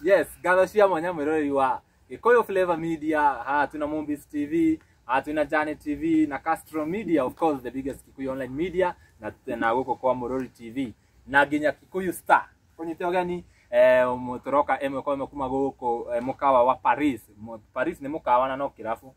Yes, ngatho cia mwanya mwĩroreri wa Gĩkũyũ Flavor Media, haha twĩna Mombis TV, haha twĩna Jane TV na Castro Media, of course the biggest Kikuyu online media na na gũkũ kwa Mũrori TV na nginya Kikuyu Star. Kũnyite ũgeni eh, mũtoroka ĩmwe kwa ĩmwe kuma gũkũ eh, mũkawa wa Paris. Mu- Paris nĩ mũkawa na no kĩrabu.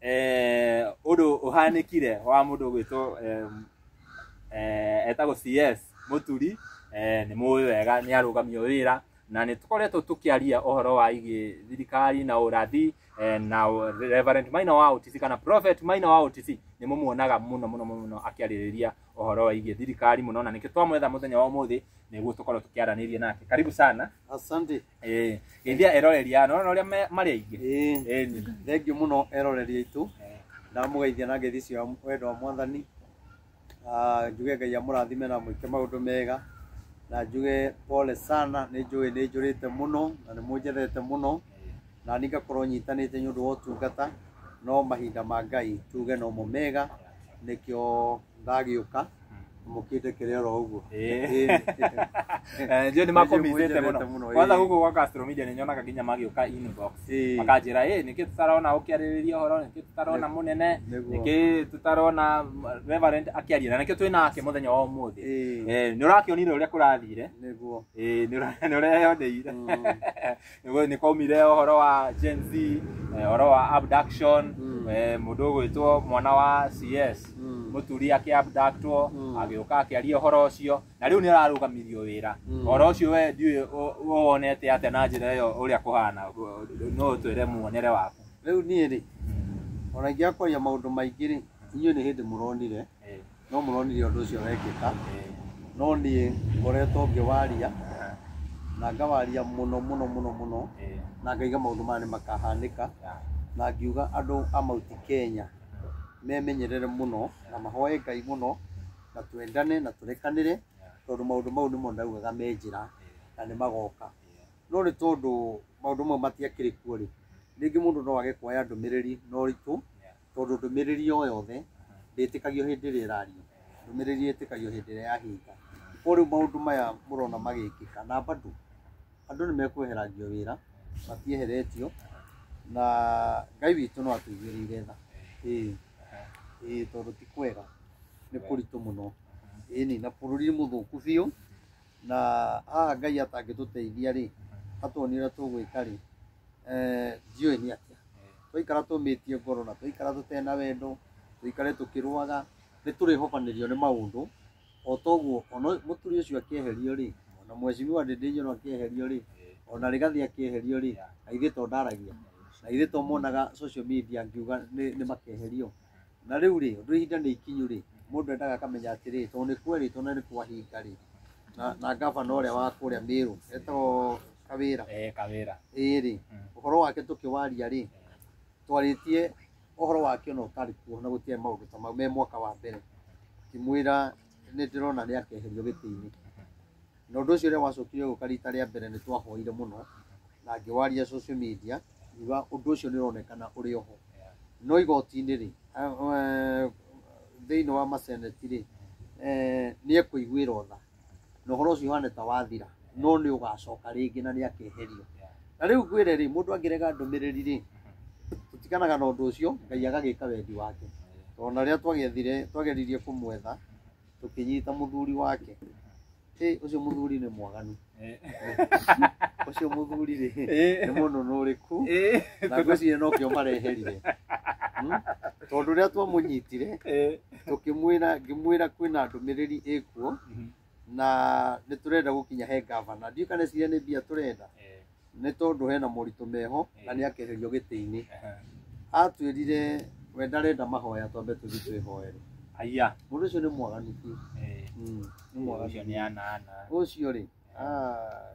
eh, ũndũ ũhanĩkire wa mũndũ gwĩtwo em, eh, etagwo CS Mũturi eh, nĩ mũĩ wega nĩ arũgamio wĩra na nĩ tũkoretwo tũkĩaria ũhoro wa igi thirikari na ũrathi eh, na ũ- Reverend Maina wa OTC kana Prophet Maina wa OTC nĩ mũmuonaga mũno mũno mũno akĩarĩrĩria ũhoro wa igi thirikari mũno na nĩkĩo twamwetha mũthenya wa ũmũthĩ nĩguo tũkorwo tũkĩaranĩria nake karibu sana Asante. Eh, geithia eroreri ano ona uria mari aingi Ĩĩ. eni thengiũ mũno eroreri aitũ ndamũgeithia na ngeithi cia wendo wa mwathani Ah, njuge ngai amũrathime na mwĩke maũndũ mega na njuge pole sana nĩ njũĩ nĩ njũrĩte mũno na nĩ mũnjethete mũno na nĩ ngakorwo nyitanĩte nĩ ũndũ wa ũtungata no mahinda ma ngai tuge nomo mega nĩkĩo ndagĩũka mukite kere oro uguo Eh. Eh, ndio nimakomitete muno Nĩnjĩrĩte mũno, kwanza ĩĩ. guku gwa Castro Media nĩnyonaga nginya magĩũka inbox Ĩĩ. makanjĩra ĩ nĩkĩ tũtarona ũkĩarĩrĩria ũhoro nĩkĩ tũtarona mũnene Nĩguo. nĩkĩ tũtarona reverend akĩaria na nĩkĩ twĩ nake mũthenya wa ũmũthĩ Ĩĩ. Eh, nĩ ũrakĩonire ũrĩa kũrathire nĩguo Eh, nĩ ũra- nĩ ũreyoneire Mm. Nĩguo nĩ kwaumire ũhoro wa Gen Z, eh, ũhoro wa abduction, Mm. eh, mũndũ ũgwĩtwo mwana wa CS Mm. mũturi akĩabductwo Mm. agĩũka akĩaria ũhoro ũcio na rĩu nĩ ararũgamirio wĩra Mm. ũhoro ũcio we ndiũĩ ũ- ũwonete atĩa na njĩra ĩyo ũrĩa kũhana no ũtwĩre muonere waku rĩu niĩ rĩ ona ingĩakwaria maũndũ maingĩ rĩ inyuĩ nĩ hĩndĩ mũronire Eh, no mũronire ũndũ ũcio wekĩka no niĩ ngoretwo ngĩwaria na ngawaria mũno mũno mũno mũno na ngaiga maũndũ maya nĩ makahanĩka na ngiuga andũ a Mount Kenya memenyerere mũno na mahoe Ngai mũno na twendane na tũrekanĩre tondũ maũndũ mau nĩmo ndaugaga me njĩra na nĩ magoka. No nĩ tondũ maũndũ mau matiakĩrĩ kuo rĩ, rĩngĩ mũndũ no age kuoya ndũmĩrĩri na ũritũ. Tondũ ndũmĩrĩri o yothe ndĩtĩkagio hĩndĩ ĩrĩa ĩrario, ndũmĩrĩri ĩtĩkagio hĩndĩ ĩrĩa yahinga. Koguo rĩu maũndũ maya mũrona magĩkĩka na bado andũ nĩ mekweherangio wĩra, matieheretio na Ngai witũ no atũigĩrĩire tha. Ĩĩ, ĩĩ tondũ ti kwega, nĩ kũritũ mũno. Ĩni, na bũrũri mũthũku biũ, na haha Ngai atangĩtũteithia rĩ, atonie ũrĩa tũgwĩka rĩ, ndiũĩ nĩ atĩa. twaikara tũmĩtie ngoro na twaikara tũtena wendo tũikare tũkĩrũaga nĩ tũrĩhobanĩrio nĩ maũndũ o toguo ona mũturi ũcio akĩeherio rĩ ona mwecimiwa ndĩndĩnyũrũ akĩeherio rĩ ona rĩgathi akĩeherio rĩ na ithuĩ to ndaragia na ithuĩ to monaga social media ngiuga nĩ nĩ makeherio na rĩu rĩ ũndũ ihinda nĩ ikinyu rĩ mũndũ endaga akamenya atĩrĩ tondũ nĩ kwerĩtwo na nĩ kwahinga rĩ na, na gavana ũrĩa wa kũrĩa mĩrũ etagwo kawĩra eh kawira ĩĩ rĩ Mm. ũhoro wake tũkĩwaria rĩ twarĩtie ũhoro wake ona ũtarĩ kuo na gũtiarĩ maũndũ ta mau me mwaka wa mbere ngĩmwĩra nĩ ndĩrona nĩ akeherio gĩtĩ-inĩ Na ũndũ ũcio rĩrĩa gwacokire gũka rita rĩa mbere nĩ twahoire mũno na ngĩwaria social media ngiuga ũndũ ũcio nĩ ũronekana ũrĩ oho. No igoti-inĩ rĩ, thĩinĩ wa maseneti rĩ, nĩ ekũiguĩrwo tha na ũhoro ũcio ũhane ta wathira no nĩ ũgacoka rĩngĩ na nĩ akeherio. Na rĩu ngwĩre rĩ, mũndũ angĩrega ndũmĩrĩri rĩ, tũtiganaga na ũndũ ũcio Ngai agagĩka wendi wake. Tondũ ona rĩrĩa twageririe kũmwetha tũkĩnyita mũthuri wake Ĩ, ũcio mũthuri nĩ mwaganu ũcio mũthuri rĩ nĩ mũnũnũ ũrĩkũ na ngwĩciria nokĩo mareherire Hmm? tondũ rĩrĩa twamũnyitire tũkĩmwĩra ngĩmwĩra kwĩna ndũmĩrĩri ĩkuo na nĩ tũrenda gũkinya he ngavana ndiũĩ kana ĩciria nĩ mbia tũrenda nĩ tondũ hena moritũ meho na nĩ akeherio gĩtĩ-inĩ atwĩrire we ndarenda mahoya twambe tũthiĩ twĩhoere Aya. mũndũ ũcio nĩ mwaganu biũ Eh, Mm, nĩ mwaganu Ũcio nĩ anana. ũcio rĩ ah,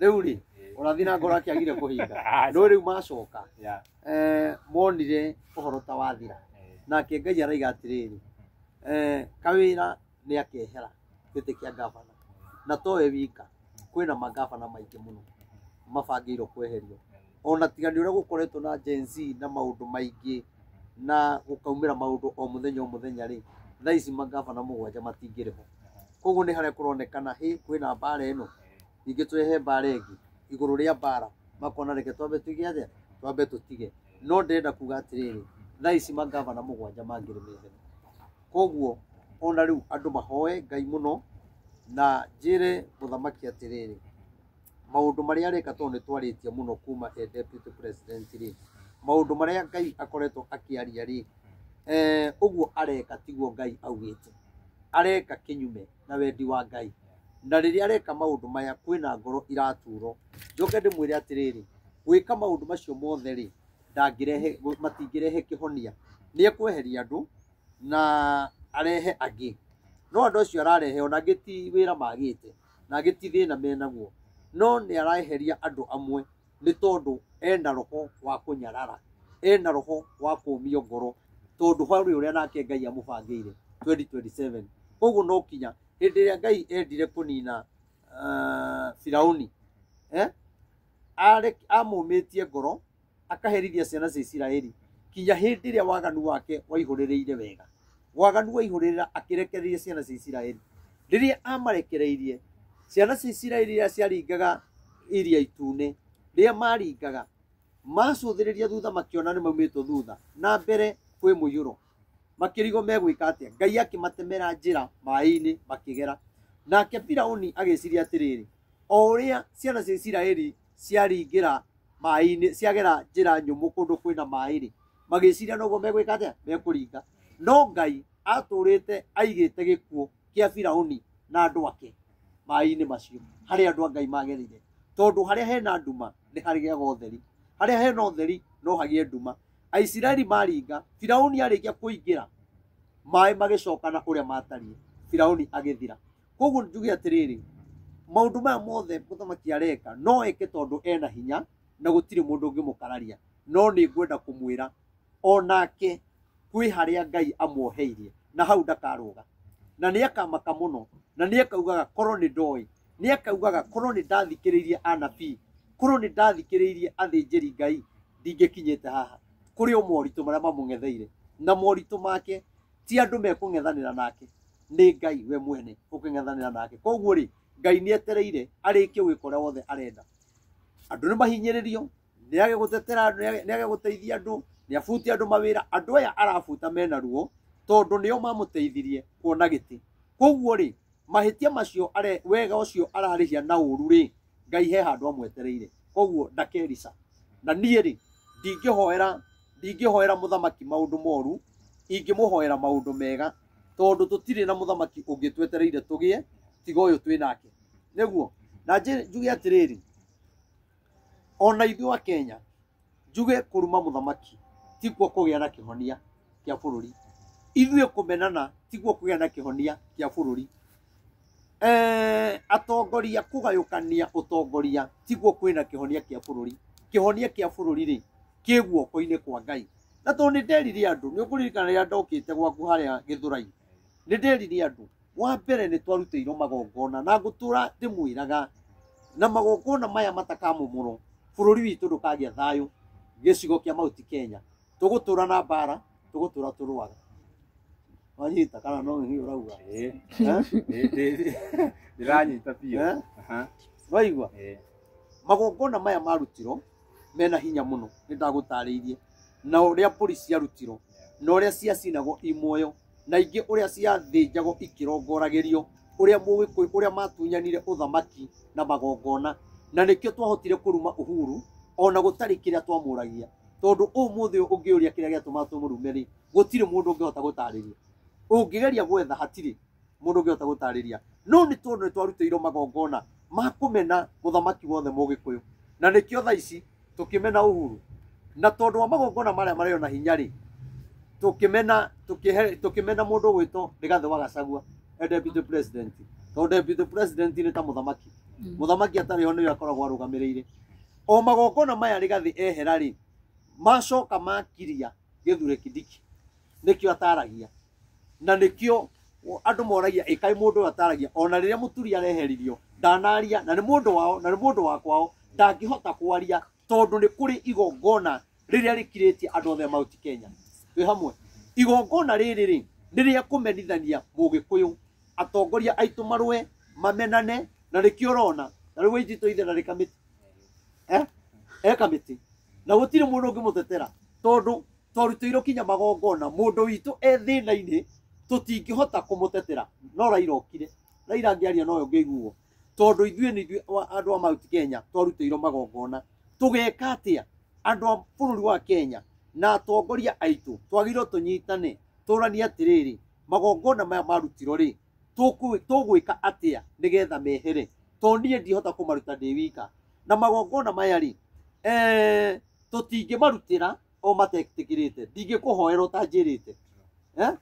rĩu rĩ Eh, ũrathi na ngoro akĩagire kũhinga aca. ndũĩ rĩu macoka Ya. eh, monire ũhoro ta wathira Eh, nake ngai araiga atĩrĩrĩ eh, kawĩra nĩ akehera gĩtĩ kĩa ngabana na towe wika kwĩna mangabana maingĩ mũno mabangĩirwo kweherio ona tiga nĩ ũrĩa gũkoretwo na Gen Z na maũndũ maingĩ na gũkaumĩra maũndũ o mũthenya o mũthenya rĩ thaa ici mangabana mũgwanja matingĩrĩ ho koguo nĩ harĩa kũronekana hĩ kwĩna mbara ĩno ningĩ twehe mbara ĩngĩ igũrũ rĩa mbara makona reke twambe tuige atĩa twambe tũtige no ndĩrenda kuga atĩrĩrĩ thaa ici mangabana mũgwanja mangĩrĩ methene Koguo o na rĩu andũ mahoe Ngai mũno, na njĩre mũthamaki atĩrĩrĩ, maũndũ marĩa areka tondũ nĩ twarĩtie mũno kuma e deputy president rĩ, maũndũ marĩa Ngai akoretwo akĩaria rĩ, ũguo areka tiguo Ngai augĩte. Areka kĩnyume na wendi wa Ngai. Na rĩrĩa areka maũndũ maya kwĩna ngoro iraturwo. Njoke ndĩmwĩre atĩrĩrĩ, gwĩka maũndũ macio mothe rĩ, ndangĩrehe matingĩrehe kĩhonia nĩ ekweheria andũ na arehe angĩ no andũ acio ararehe ona angĩ ti wĩra magĩte na angĩ ti thĩna menaguo no nĩ araeheria andũ amwe nĩ tondũ ena roho wa kũnyarara ena roho wa kũmio ngoro tondũ harĩ ũrĩa nake ngai amũbangĩire 2027 koguo no kinya hĩndĩ ĩrĩa ngai endire kũnina ah, firauni eh? are- amũmĩtie ngoro akaherithia ciana cia isiraeli kinya hĩndĩ ĩrĩa waganu wake waihũrĩrĩire wega waganu waihũrĩrĩra akĩrekereria ciana cia isiraeli rĩrĩa amarekereirie ciana cia isiraeli iria ciaringaga iria itune rĩrĩa maringaga macũthĩrĩria thutha makĩona nĩ maumĩtwo thutha na mbere kwĩ mũiyũro makĩrigwo megwĩka atĩa ngai akĩmatemera njĩra maĩ-inĩ makĩgera nake firauni agĩciria atĩrĩrĩ o ũrĩa ciana cia isiraeli ciaringĩra maĩ-inĩ ciagera njĩra nyũmũ kũndũ kwĩna maĩ-rĩ magĩciria noguo megwĩka atĩa mekũringa no ngai atũrĩte aigĩte gĩkuũ kĩa firauni na andũ ake maĩ-inĩ macio harĩa andũ a ngai magerire tondũ harĩa hena nduma nĩ harĩgĩaga ũtheri harĩa hena ũtheri no hagĩe nduma aisiraeli maringa firauni arĩkia kũingĩra maĩ magĩcokana ũrĩa matariĩ firauni agĩthira koguo njuge atĩrĩrĩ maũndũ maya mothe mũthamaki areka no eke tondũ ena hinya na gũtirĩ mũndũ ũngĩmũkararia no nĩ ngwenda kũmwĩra o nake kwĩ harĩa ngai amuoheirie na hau ndakarũga na nĩ akamaka mũno na nĩ akaugaga korwo nĩ ndoĩ nĩ akaugaga korwo nĩ ndathikĩrĩirie anabii korwo nĩ ndathikĩrĩirie athĩnjĩri ngai ndingĩkinyĩte haha kũrĩ o moritũ marĩa mamũng'etheire na moritũ make ti andũ mekũng'ethanĩra nake nĩ ngai we mwene ũkĩng'ethanĩra nake koguo rĩ ngai nĩ etereire arĩkie gwĩka ũrĩa wothe arenda andũ nĩ mahinyĩrĩrio nĩ age gũtetera andũ nĩ age- nĩ age gũteithia andũ nĩ abutia andũ mawĩra andũ aya arabuta mena ruo tondũ nĩo mamũteithirie kuona gĩtĩ koguo rĩ mahĩtia macio are wega ũcio ararĩhia na ũru rĩ ngai he handũ amwetereire koguo ndakerica na niĩ rĩ ndingĩhoera ndingĩhoera mũthamaki maũndũ moru ingĩmũhoera maũndũ mega tondũ tũtirĩ na mũthamaki ũngĩ twetereire tũgĩe tiga ũyũ twĩ nake nĩguo na njĩ- njuge atĩrĩrĩ ona ithuĩ a Kenya njuge kũruma mũthamaki tikuo kũgĩa na kĩhonia kĩa bũrũri ithuĩ kũmenana tiguo kũgĩa na kĩhonia kĩa bũrũri Eh, atongoria kũgayũkania ũtongoria tiguo kwĩna kĩhonia kĩa bũrũri kĩhonia kĩa bũrũri rĩ kĩ guoko-inĩ kwa ngai na tondũ nĩ nderire andũ nĩ ũkũririkana rĩrĩa ndokĩte gwaku harĩa gĩthũrai nĩ nderire andũ wa mbere nĩ twarutĩirwo magongona na ngũtũra ndĩmwĩraga na magongona maya matakamomorwo bũrũri witũ ndũkagĩa thayũ gĩcigo kĩa mauti kenya tũgũtũra na mbara tũgũtũra tũrũaga wanyita kana no nĩ ũrauga Eh, Eh? eh, eh, ndĩranyita biũ Eh? Aha, waigua eh. magongona maya marutirwo mena hinya mũno nĩ ndagũtarĩirie na ũrĩa mbũri ciarutirwo na ũrĩa ciacinagwo i muoyo na ingĩ ũrĩa ciathĩnjagwo ikĩrongoragĩrio ũrĩa mũgĩkũyũ ũrĩa matunyanire ũthamaki na magongona na nĩkĩo twahotire kũruma uhuru ona gũtarĩ kĩrĩa twamũragia tondũ ũmũthĩ ũyũ ũngĩũria kĩrĩa gĩatũma tũmũrume rĩ gũtirĩ mũndũ ũngĩhota gũtarĩria ũngĩgeria gwetha hatirĩ mũndũ ũngĩhota gũtarĩria no nĩ tondũ nĩ twarutĩirwo magongona makũmena mũthamaki wothe mũgĩkũyũ na nĩkĩo tha ici tũkĩmena uhuru na tondũ wa magongona marĩa marĩ ona hinya rĩ tũkĩmena tũkĩhe- tũkĩmena mũndũ ũgwĩtwo rĩgathĩ wa gacagua e deputy president tondũ deputy president nĩ ta mũthamaki mũthamaki atarĩ ho nĩwe akoragwo arũgamĩrĩire o magongona maya rĩgathĩ ehera rĩ macoka makiria gĩthure kidiki nĩkĩo ataragia na nĩkĩo andũ moragia ĩkaĩ mũndũ ũyũ ataragia ona rĩrĩa mũturi areheririo ndanaria na nĩ mũndũ wao na nĩ mũndũ wa kwao ndangĩhota kwaria tondũ nĩ kũrĩ igongona rĩrĩa rĩkirĩtie andũ othe a mauti kenya twĩ hamwe igongona rĩrĩ rĩ nĩ rĩa kũmenithania mũgĩkũyũ atongoria aitũ marũe mamenane na nĩkĩo ũrona na rĩu wainjitũ ithe na rĩkamĩti eh? e kamĩtĩ na gũtirĩ mũndũ ũngĩmũtetera tondũ twarutĩirwo kinya magongona mũndũ witũ e thĩna-inĩ tũtingĩhota kũmũtetera no raira okire raira angĩaria noyo ngĩiguo tondũ ithuĩ nĩ ithuĩ wa- andũ a mount kenya twarutĩirwo magongona tũgeka atĩa andũ a bũrũri wa kenya na atongoria aitũ twagĩrĩirwo tũnyitane tũranie atĩrĩrĩ magongona maya marutirwo rĩ tũkũ- tũgwĩka atĩa nĩgetha mehere to niĩ ndihota kũmaruta ndĩ wika na magongona maya rĩ eh, tũtingĩmarutĩra ũmatekĩkĩrĩte ndingĩkũhoera ũtanjĩrĩte Eh?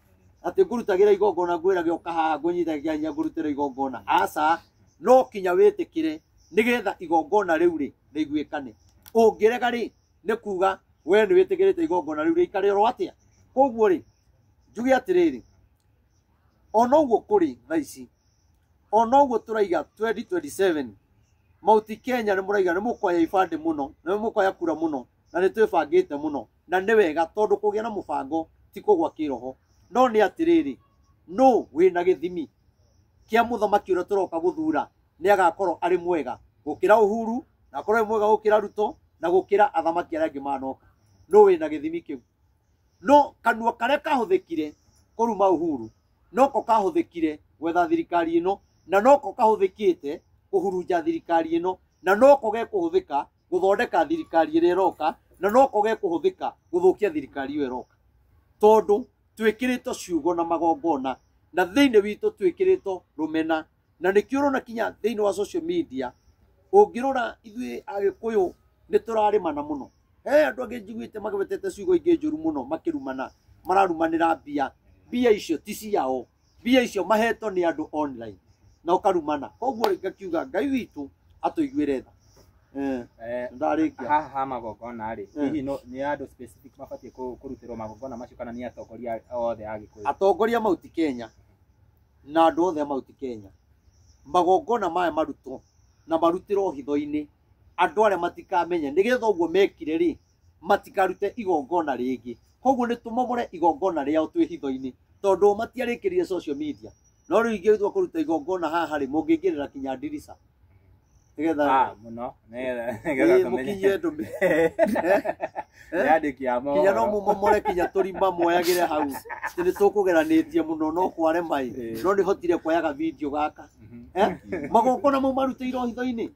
atĩ ngũrutagĩra igongona ngwĩrage ũka haha ngũnyitagĩra hinya ngũrutĩra igongona aca no kinya wĩtĩkĩre nĩgetha igongona rĩu rĩ rĩiguĩkane ũngĩrega rĩ nĩ kuga we nĩ wĩtĩkĩrĩte igongona rĩu rĩikare oro atĩa koguo rĩ njuge atĩrĩrĩ ona ũguo kũrĩ tha ici ona ũguo tũraiga 2027 mauti kenya nĩ mũraiga nĩ mũkoya ibandĩ mũno nĩ mũkoya kura mũno na nĩ twĩbangĩte mũno na nĩ wega tondũ kũgĩa na mũbango ti kũgwa kĩroho no nĩ atĩrĩrĩ nũ wĩna gĩthimi kĩa mũthamaki ũrĩa tũroka gũthura nĩ agakorwo arĩ mwega gũkĩra uhuru na akorwo arĩ mwega gũkĩra ruto na gũkĩra athamaki arĩa angĩ manoka nũ wĩna gĩthimi kĩu no kanua karĩa kahũthĩkire kũruma uhuru noko kahũthĩkire gwetha thirikari ĩno na noko kahũthĩkĩte kũhurunja thirikari ĩno na noko gekũhũthĩka gũthondeka thirikari ĩrĩa ĩroka na no koge kũhũthĩka gũthũkia thirikari ĩyo ĩroka tondũ twĩkĩrĩtwo ciugo na magongona na thĩinĩ witũ twĩkĩrĩtwo rũmena na nĩkĩo ũrona kinya thĩinĩ wa social media ũngĩrora ithuĩ agĩkũyũ nĩ tũrarĩmana mũno he andũ angĩ njiguĩte magwetete ciugo ingĩ njũru mũno makĩrumana mararumanĩra mbia mbia icio ti ciao mbia icio mahetwo nĩ andũ online na ũkarumana koguo ngakiuga ngai witũ atũiguĩre tha Eh, Eh, ndarĩkia haha ha magongona rĩ Mm. hihi no- nĩ andũ specific mabatiĩ kũ- kũrutĩrwo magongona macio kana nĩ atongoria othe a gĩkũyũ atongoria mauti kenya na andũ othe a mauti kenya magongona maya marutwo na marutĩrwo hitho-inĩ andũ arĩa matikamenye nĩgetha ũguo mekire rĩ matikarute igongona rĩngĩ koguo nĩ tũmomore igongona rĩao twĩ hitho-inĩ tondũ matiarĩkĩrire social media no rĩu ingĩtua kũruta igongona haha rĩ mũngĩingĩrĩra kinya ndirica nĩgetha Ah, mũno Nĩgetha- Ĩĩ, nĩgetha tũmenye. mũkinyie ndũmĩ Yandĩki ya kinya no mohoro. mũmomore kinya tũrima mwoyagĩre hau Atĩ nĩ tũkũgeranĩtie mũno no kware mai Ĩĩ. no nĩhotire kuoyaga video gaka Mhm. Eh? magongona mau marutĩirwo hitho-inĩ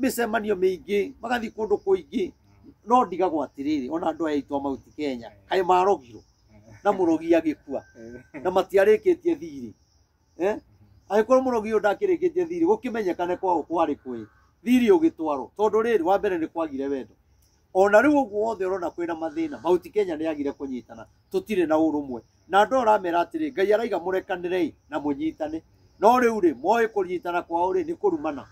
mĩcemanio mĩingĩ magathiĩ kũndũ kũingĩ no ndigagwo atĩrĩrĩ ona andũ aya aitũ a mauti kenya kaĩ marogirwo na mũrogi agĩkua na matiarĩkĩtie thirĩ eh? angĩkorwo mũrogi ũyũ ndakĩrĩkĩtie thirĩ gũkĩmenyekane kwao kwarĩ kwĩ thirĩ ũgĩtwarwo tondũ rĩrĩ wa mbere nĩ kwagire wendo ona rĩu ũguo wothe ũrona kwĩna mathĩna mauti kenya nĩ agire kũnyitana tũtirĩ na ũrũmwe na andũ aramera atĩrĩ ngai araiga mũrekanĩrei na mũnyitane no rĩu rĩ moĩ kũnyitana kwao rĩ nĩ kũrumana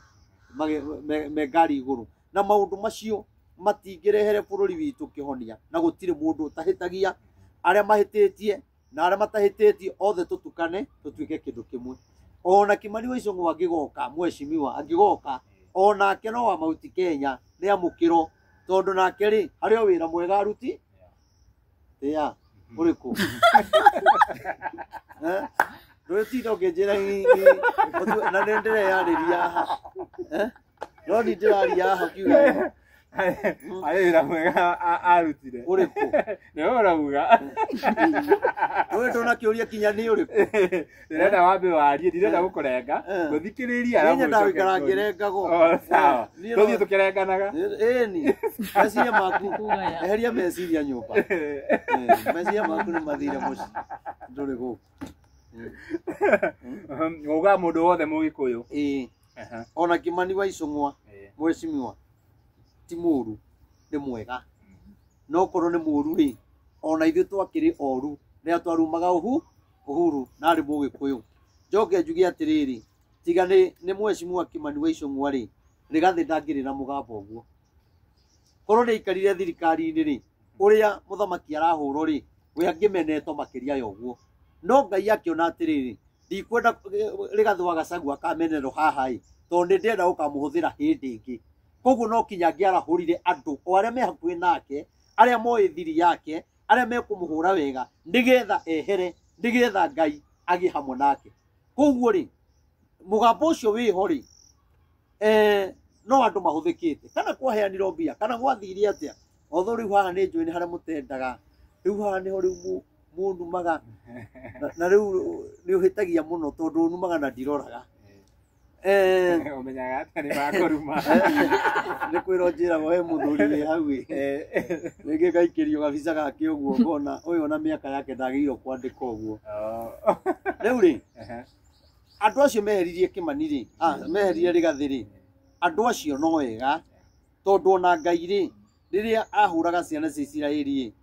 mage- me- me ngari igũrũ na maũndũ macio matingĩrehere bũrũri witũ kĩhonia na gũtirĩ mũndũ ũtahĩtagia arĩa mahĩtĩtie na arĩa matahĩtĩtie othe tũtukane tũtuĩke kĩndũ kĩmwe ona kimani wa icũng'wa angĩgoka mweshimiwa angĩgoka onake no wa mauti kenya nĩ amũkĩro tondũ nake rĩ harĩ o wĩra mwega aruti ĩa ũrĩkũ Eh? ndũrĩtinda ũkĩnjĩra hihi na nĩ ndĩreyarĩria haha Eh? No ni ndĩraria haha kiuga. Harĩ wĩra mwega a- arutire. Ũrĩkũ? Nĩ we ũrauga. Rũĩ ndona kĩũria kinya nĩ ũrĩkũ? Ndĩrenda wambe warie, ndirenda gũkũrenga. Eh. Ngũthikĩrĩria Niĩ arabu nyendaga ũcoke gũikara kũũria. ngĩrengago. Oh, sawa. Eh, niĩ Tũthiĩ no- tũkĩrenganaga. Ĩĩ ni. Meciria maku. Eheria meciria nyũmba. Eh, Meciria maku nĩ mathire mũciĩ. Ndũrĩ gũkũ. Ũga mũndũ wothe mũgĩkũyũ. Ĩĩ. Aha. ona kimani wa icung'wa Eh. mwecimiwa ti mũru nĩ mwega no korwo nĩ mũru rĩ ona ithuĩ twakĩrĩ oru rĩrĩa twarumaga ũhu ũhuru na arĩ mũgĩkũyũ njoke njuge atĩrĩrĩ tiga nĩ nĩ mwecimiwa kimani wa icung'wa rĩ rĩgathĩ ndangĩrĩ na mũgambo ũguo korwo nĩ aikarire thirikari-inĩ rĩ ũrĩa mũthamaki arahũrwo rĩ we angĩmenetwo makĩria ya ũguo no ngai akĩona atĩrĩrĩ ndikwenda rĩgathwa gacagua ka menero haha ĩ tondũ nĩ ndĩenda gũkamũhũthĩra hĩndĩ ĩngĩ koguo no kinya angĩarahũrire andũ o arĩa me hakuhĩ nake arĩa moĩ thiri yake arĩa mekũmũhũra wega nĩgetha ehere nĩgetha ngai agĩe hamwe nake koguo rĩ mũgambo ũcio wĩho rĩ eh, no andũ mahũthĩkĩte kana kwaheanirwo mbia kana gwathire atĩa Although rĩu haha nĩ njũĩ nĩ harĩa mũtendaga, rĩu haha nĩho rĩu mũ- mũnumaga na- na rĩu nĩ ũhĩtagia mũno tondũ numaga na ndiroraga. Eh, Ũmenyaga atĩa nĩ makũruma. nĩ kwĩra njĩraga we mũthuri wĩ hau ĩ. Rĩngĩ ngaikĩrio gabica gake ũguo ngona ũyũ ona mĩaka yake ndagĩrĩirwo kwandĩka ũguo. Oh. Rĩu rĩ, Aha. andũ acio meheririe Kĩmani rĩ, ah, meherire Rĩgathĩ rĩ, andũ acio no wega tondũ ona ngai rĩ rĩrĩa ahũraga ciana cia isiraeli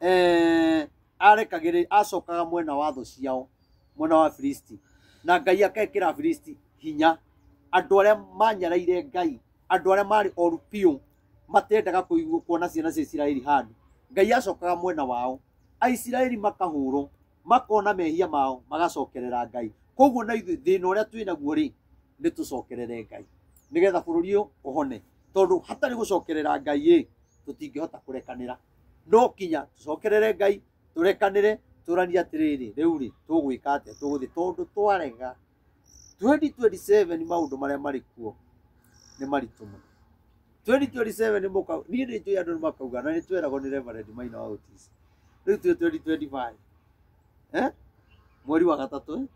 eh, arekagĩrĩ acokaga mwena wa thũ ciao mwena wa filisti na ngai akekĩra filisti hinya andũ arĩa manyaraire ngai andũ arĩa marĩ oru biũ matendaga kũigua kuona ciana cia isiraeli handũ ngai acokaga mwena wao aisiraeli makahũrwo makona mehia mao magacokerera ngai koguo na ithuĩ thĩna ũrĩa twĩ naguo rĩ nĩ tũcokerere ngai nĩgetha bũrũri ũyũ ũhone tondũ hatarĩ gũcokerera ngai ĩ tũtingĩhota kũrekanĩra no kinya tũcokerere ngai tũrekanĩre tũranie atĩrĩrĩ rĩu rĩ tũgwĩka atĩa tũgũthiĩ tondũ twarega 2027 nĩ maũndũ marĩa marĩ kuo nĩ maritũ mũno 2027 nĩ mũka niĩ nĩ njũĩ andũ nĩ makauga na nĩ tweragwo nĩ Reverend Maina wa Otis rĩu twĩ 2025 eh mweri wa gatatũ eh?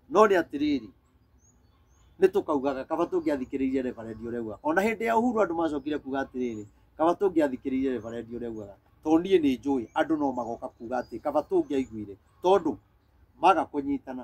no nĩ atĩrĩrĩ nĩ tũkaugaga kaba tũngĩathikĩrĩirie Reverend ũrĩa augaga ona hĩndĩ ya Uhuru andũ macokire kuga atĩrĩrĩ kaba tũngĩathikĩrĩirie Reverend ũrĩa augaga tondũ niĩ nĩ njũĩ andũ no magoka kuga atĩ kaba tũngĩaiguire tondũ maga kũnyitana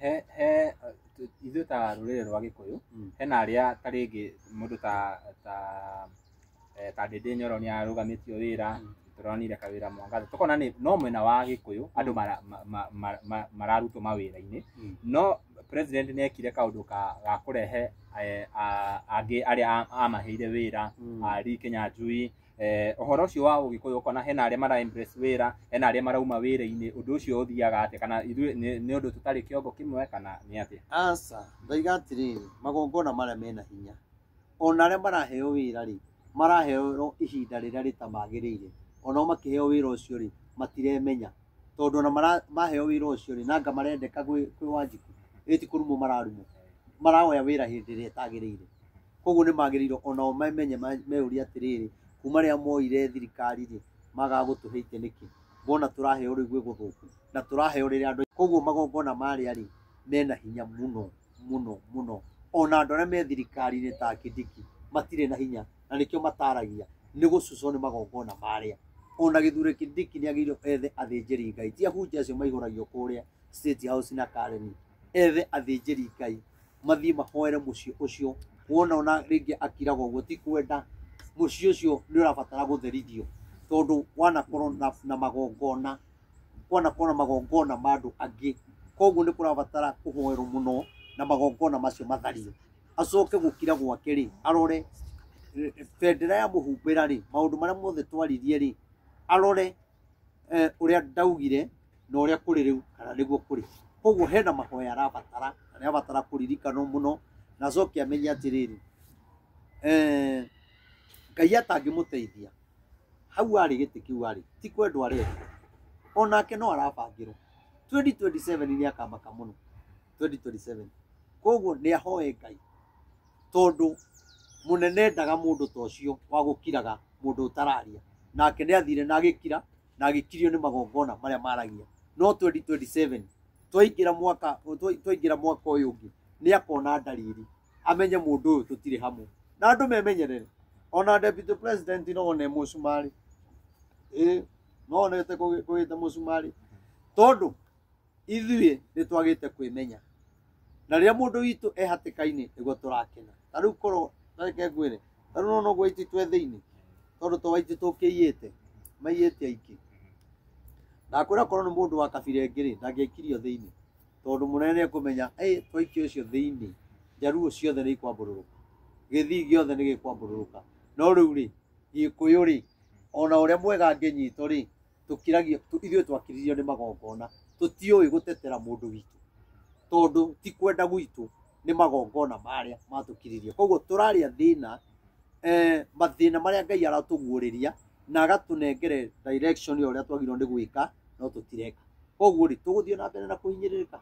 he he ithuĩ ta rũrĩrĩ rwa gĩkũyũ Mm. hena arĩa ta rĩngĩ mũndũ ta ta eh, ta ndĩndĩ nyoro nĩ arũgamĩtio wĩra tũronire kawĩra mwangaza tũkona nĩ no mwena wa gĩkũyũ andũ mara- ma- ma- ma- ma- mararutwo mawĩra-inĩ Mm. no president nĩ ekire kaũndũ ka ga kũrehe eh, a- angĩ arĩa a- amaheire wĩra Mm. a Lee Kenya Njui eh, ũhoro ũcio wa ũgĩkũyũ ũkona hena arĩa mara embrace wĩra hena arĩa marauma wĩra-inĩ ũndũ ũcio ũthiaga atĩa kana ithuĩ nĩ nĩ ũndũ tũtarĩ kĩongo kĩmwe kana nĩ atĩa aca ndoiga atĩrĩrĩ magongona marĩa mena hinya ona arĩa maraheo wĩra rĩ maraheo ihinda rĩrĩa rĩtamagĩrĩire onao makĩheo wĩra ũcio rĩ matiremenya tondũ ona mara- maheo wĩra ũcio rĩ nanga marendeka gwĩ gwĩ wanjiku ĩti kũrumwo mararumwo marawoya wĩra hĩndĩ ĩrĩa ĩtagĩrĩire Koguo nĩ magĩrĩirwo onao mamenye meyũrie atĩrĩrĩ, kuma rĩrĩa moire thirikari rĩ, magaga gũtũhe itĩ nĩkĩ? Ngona tũraheo rĩu gwĩ gũthũku na tũraheo rĩrĩa andũ. Koguo magongona marĩa rĩ, mena hinya mũno mũno mũno. Ona andũ arĩa me thirikari-inĩ ta Kindiki matirĩ na hinya na nĩkĩo mataragia, nĩ gũcucwo nĩ magongona marĩa. Ona gĩthurĩ Kindiki nĩ agĩrĩirwo ethe athĩnjĩri Ngai, ti ahunjia acio maihũragio kũrĩa State House na Karen, ethe athĩnjĩri Ngai. mathiĩ mahoere mũciĩ ũcio wona ona rĩngĩ akiraga ũguo ti kwenda mũciĩ ũcio nĩ ũrabatara gũtherithio tondũ wanakorwo na, na magongona kwanakorwo na magongona ma andũ angĩ koguo nĩ kũrabatara kũhoerwo mũno na magongona macio mathario acoke gũkira gwake rĩ arore eh, bendera ya mũhumbĩra rĩ maũndũ marĩa mothe twaririe rĩ arore eh, ũrĩa ndaugire na ũrĩa kũrĩ rĩu kana nĩguo kũrĩ koguo hena mahoya arabatara na nĩ abatara kũririkanwo mũno na acoke amenye atĩrĩrĩ eh, ngai atangĩmũteithia hau arĩ gĩtĩ kĩu arĩ ti kwendwo arenda onake no arabangĩrwo 2027 nĩ akamaka mũno 2027 koguo nĩ ahoe ngai tondũ mũnene endaga mũndũ ta ũcio wa gũkiraga mũndũ ũtararia. Nake nĩ athire na agĩkira na agĩkirio nĩ magongona marĩa maragia. No 2027 twaingĩra mwaka twaingĩra mwaka ũyũ ũngĩ nĩ akona ndariri amenye mũndũ ũyũ tũtirĩ hamwe. Na andũ memenyerere. Ona Deputy President no one mũcumarĩ. Ĩĩ no one ũtekũgĩte mũcumarĩ. Tondũ ithuĩ nĩ twagĩte kwĩmenya na rĩrĩa mũndũ witũ e hatĩka-inĩ nĩguo tũrakena ta rĩu korwo tareke ngwĩre ta rĩu nona ũguo aititũ e thĩinĩ tondũ to aitũ tũkĩiyĩte maiyĩte aingĩ ndakwĩra korwo nĩ mũndũ wa kabira ĩngĩ rĩ ndangĩaikirio thĩinĩ tondũ mũnene nĩ ekũmenya "Ĩ, twaikia ũcio thĩinĩ njaruo ciothe nĩ ikwambũrũrũka gĩthii gĩothe nĩ gĩkwambũrũrũka no rĩu rĩ gĩkũyũ rĩ ona ũrĩa mwega angĩnyitwo rĩ tũkiragio tũ- ithuĩ twakiririo nĩ magongona tũtiũĩ gũtetera mũndũ witũ tondũ ti kwenda gwitũ nĩ magongona marĩa matũkiririe koguo tũrarĩa thĩna eh, mathĩna marĩa ngai aratũguũrĩria na agatũnengere direction ya ũrĩa twagĩrĩirwo nĩ gwĩka no tũtireka koguo rĩ tũgũthiĩ na mbere na kũhinyĩrĩrĩka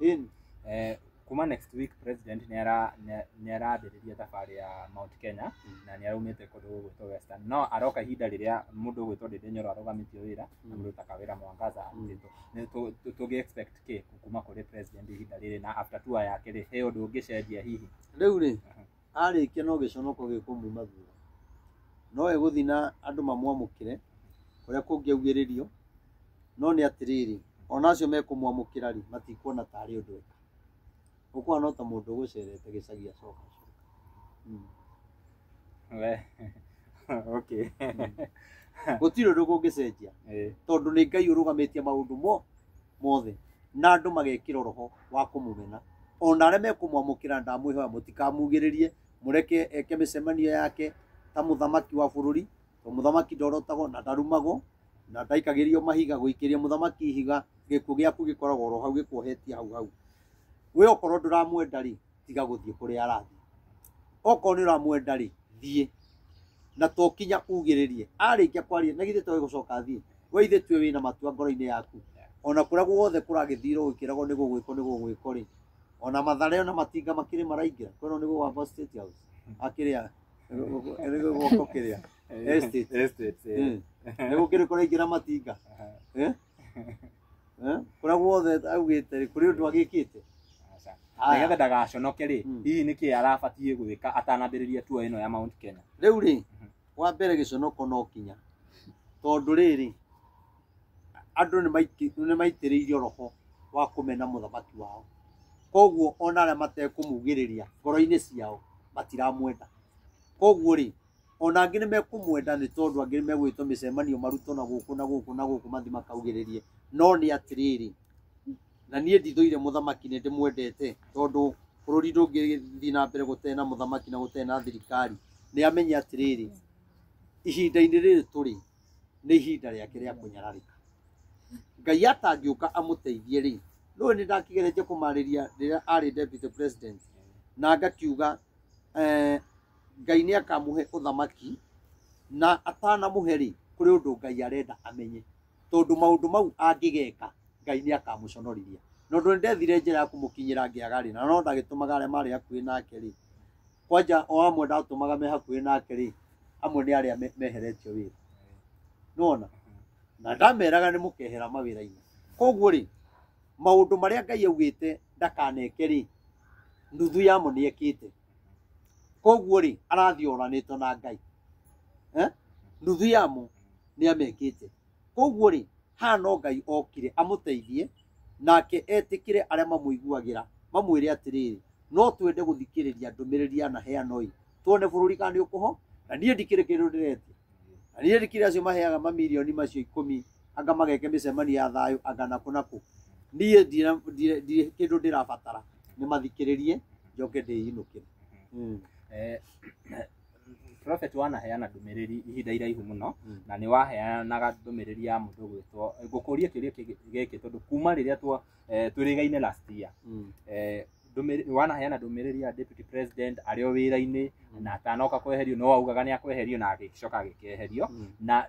Ĩni. Eh, kuma next week president nĩ ara- nĩ- nĩ arambĩrĩria thabarĩ ya mount kenya na nĩ araumĩte kũndũ gwĩtwo western no aroka ihinda rĩrĩa mũndũ gwĩtwo ndĩndĩ nyoro arũgamĩtio wĩra na mũndũ ta kawĩra mwangaza arutĩtwo Nĩ tũ- tũ- tũngĩ expect kĩ kuma kũrĩ president ihinda rĩrĩ na after tour yake rĩ he ũndũ ũngĩcenjia hihi rĩu rĩ arĩkia no gĩconoko gĩkũmuma thutha. No egũthiĩ na andũ mamwamũkĩre kũrĩa kũngĩaugĩrĩrio, no nĩ atĩrĩrĩ, ona acio mekũmwamũkĩra rĩ, matikuona ta arĩ ũndũ eka. Ũkũhana no ta mũndũ ũgũcerete gĩcagi acoka acoka. Mm. We. okay. Gũtirĩ ũndũ kũngĩcenjia Eh. tondũ nĩ Ngai ũrũgamĩtie maũndũ mo mothe na andũ magekĩra roho wa kũmũmena ona arĩa mekũmwamũkĩra ndamwĩhoya mũtikamugĩrĩrie mũreke eke mĩcemanio yake ta mũthamaki wa bũrũri to mũthamaki ndorotagwo na ndarumagwo na ndaikagĩrio mahiga gũikĩria mũthamaki ihiga gĩkuũ gĩaku gĩkoragwo oro hau gĩkuohetie hau hau we okorwo ndũramwenda rĩ tiga gũthiĩ kũrĩa arathiĩ okorwo nĩ ũramwenda rĩ thiĩ na to kinya ugĩrĩrie arĩkia kwaria na githĩ toĩ gũcoka athiĩ we ithe tuĩ wĩna matua ngoro-inĩ yaku ona kũrĩa guothe kũragĩthirwo gũkĩragwo nĩ gũgwĩkwo nĩ gũgwĩkwo rĩ ona mathare ona matinga makĩrĩ maraingĩra kwĩno nĩ gũgamba state house akĩrĩa nĩ gũgwoko kĩrĩa estate Estate, eh. nĩ gũkĩrĩ kũraingĩra matinga Eh? Eh? kũrĩa guothe augĩte rĩ kũrĩ ũndũ agĩkĩte Aca. Haya. nĩgetha ndagaconoke rĩ Mm. hihi nĩkĩ arabatiĩ gwĩka atanambĩrĩria tuo ĩno ya mount kenya rĩu rĩ wa mbere gĩconoko no kinya tondũ rĩrĩ andũ nĩ maiki- nĩ maitĩrĩirio roho wa kũmena mũthamaki wao koguo ona arĩa matekũmugĩrĩria ngoro-inĩ ciao matiramwenda koguo rĩ Ona angĩ nĩ mekũmwenda nĩ tondũ angĩ nĩ megwĩtwo mĩcemanio marutwo na gũkũ na gũkũ na gũkũ mathi makaugĩrĩrie. No nĩ atĩrĩrĩ, na niĩ ndithũire mũthamaki nĩ ndĩmwendete tondũ bũrũri ndũngĩthi na mbere gũtarĩ na mũthamaki na gũtarĩ na thirikari. Nĩ amenye atĩrĩrĩ, ihinda-inĩ rĩrĩ tũrĩ nĩ ihinda rĩake rĩa kũnyararĩka. Ngai atangĩũka amũteithie rĩ, ndũĩ nĩ ndakĩgeretie kũmarĩria rĩrĩa arĩ Deputy President na ngakiuga eeh. Ngai nĩ akamũhe ũthamaki, na atanamũhe-rĩ, kũrĩ ũndũ Ngai arenda amenye, tondũ maũndũ mau angĩgeka, Ngai nĩ akamũconorithia. Na ũndũ nĩ ndethire njĩra ya kũmũkinyĩra ngĩaga-rĩ, na no ndagĩtũmaga arĩa marĩ hakuhĩ nake-rĩ, kwanja o amwe ndatũmaga me hakuhĩ nake-rĩ, amwe nĩ arĩa meheretio wĩra. Nĩ wona? Na ndameraga nĩ mũkehera mawĩra-inĩ. Koguo-rĩ, maũndũ marĩa Ngai augĩte ndakaneke-rĩ, nuthu yamo nĩ ekĩte. koguo rĩ arathiĩ oranĩtwo na ngai Eh? nuthu yamo nĩ amekĩte koguo rĩ haha no ngai okire amũteithie nake etĩkĩre arĩa mamũiguagĩra mamwĩre atĩrĩrĩ no twende gũthikĩrĩria ndũmĩrĩri ya na heanoi tuone bũrũri kana nĩ ũkũho na niĩ ndikĩrĩ kĩndũ ndĩretia na niĩ ndikĩrĩ acio maheaga mamirioni macio ikũmi anga mageke mĩcemanio ya thayũ anga nakũ nakũ niĩ ndirĩ- ndirĩ ndirĩ kĩndũ ndĩrabatara nĩ mathikĩrĩrie njoke ndĩinũkĩre Mm. Eh, prophet wanaheana ndũmĩrĩri ihinda iraihu mũno Mm. na nĩ waheanaga ndũmĩrĩri ya mũndũ gwĩtwo ngũkũrie kĩũria kĩgĩ- gĩkĩ tondũ kuma rĩrĩa twa- eh, twĩrĩgaine last year Mm. eh, ndũmĩrĩ- wanaheana ndũmĩrĩri ya deputy president arĩ o wĩra-inĩ na atanoka kweherio no augaga nĩ akweherio na agĩcoka agĩkeherio na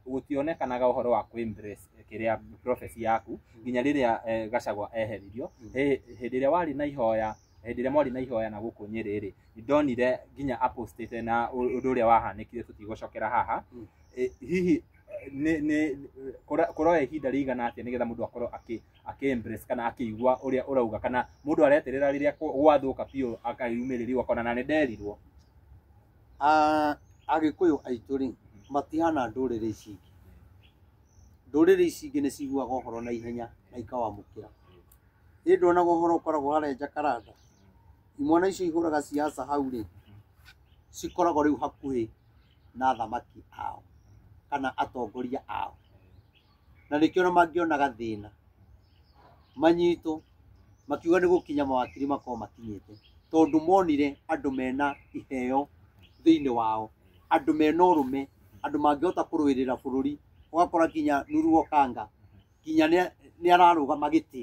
gũtionekanaga ũhoro wa kũ embrace kĩrĩa prophecy yaku nginya rĩrĩa eh, gacagwa eheririo Hĩ- hĩndĩ ĩrĩa warĩ na ihoya hĩndĩ ĩrĩa mwarĩ na ihoya na gũkũ nyĩrĩ rĩ ndonire nginya apostete na ũ- ũndũ ũrĩa wahanĩkire tũtigũcokera haha Mm. Eh, hihi eh, nĩ- nĩ- kũra- kũroya ihinda rĩigana atĩa nĩgetha mũndũ akorwo akĩ- ake embrace kana akĩigua ũrĩa ũrauga kana mũndũ areterera rĩrĩa kwa- gwathũka biũ akayumĩrĩrio akona na nĩ nderirwo Ah, agĩkũyũ aitũ rĩ matihana ndũrĩrĩ ici ingĩ ndũrĩrĩ ici ingĩ nĩ ciguaga ũhoro na ihenya na ikawamũkĩra ĩndĩ onaga ũhoro ũkoragwo harĩa njakaranda imwana icio ihũraga ciaca hau rĩ cikoragwo rĩu hakuhĩ na athamaki ao kana atongoria ao na nĩkĩo na mangĩonaga thĩna manyitwo makiuga nĩ gũkinya mawakiri makorwo makinyĩte tondũ monire andũ mena iheo thĩinĩ wao andũ mena ũrũme andũ mangĩhota kũrũĩrĩra bũrũri ũgakora nginya Nuru Okanga nginya nĩ ararũgama gĩtĩ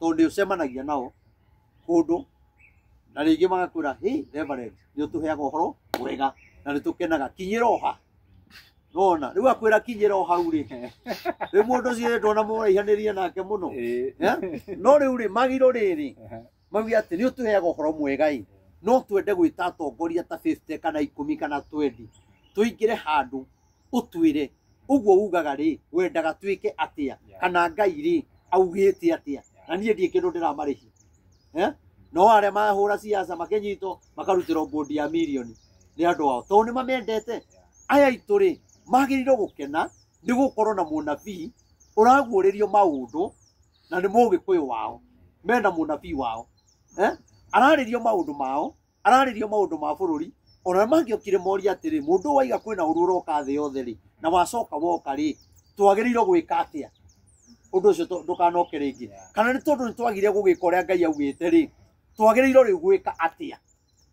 tondũ nĩ ũcemanagia nao kũndũ na rĩngĩ magakwĩra hey reverend nĩ ũtũheaga ũhoro mwega na nĩ tũkenaga kinyĩra oha nona rĩu akwĩra kinyĩra o hau rĩ rĩu mũndũ ũcio rĩ ndona mũraihanĩria nake mũno Eh, no rĩu rĩ magiro rĩrĩ mauge atĩ nĩ ũtũheaga ũhoro mwega ĩ no twende gwĩta atongoria ta 50 kana ikũmi kana 20 tũingĩre handũ ũtwĩre ũguo ugaga rĩ wendaga twĩke atĩa Yeah. kana ngai rĩ augĩte atĩa na niĩ ndiĩ kĩndũ ndĩramarĩhia Eh? no arĩa mahũra ciaca makĩnyitwo makarutĩrwo bondi ya milioni nĩ andũ ao tondũ nĩ mamendete aya aitũ rĩ magĩrĩirwo gũkena nĩ gũkorwo na mũnabii ũraguũrĩrio maũndũ na nĩ mũgĩkũyũ wao mena mũnabii wao eh? ararĩrio maũndũ mao ararĩria maũndũ ma bũrũri ona mangĩokire moria atĩrĩ mũndũ ũyũ waiga kwĩna ũru ũroka thĩ yothe rĩ na wacoka woka rĩ twagĩrĩirwo gwĩka atĩa ũndũ ũcio tũ- ndũkanoke rĩngĩ kana nĩ tondũ nĩ twagire gũgĩka ũrĩa ngai augĩte rĩ twagĩrĩirwo rĩu gwĩka atĩa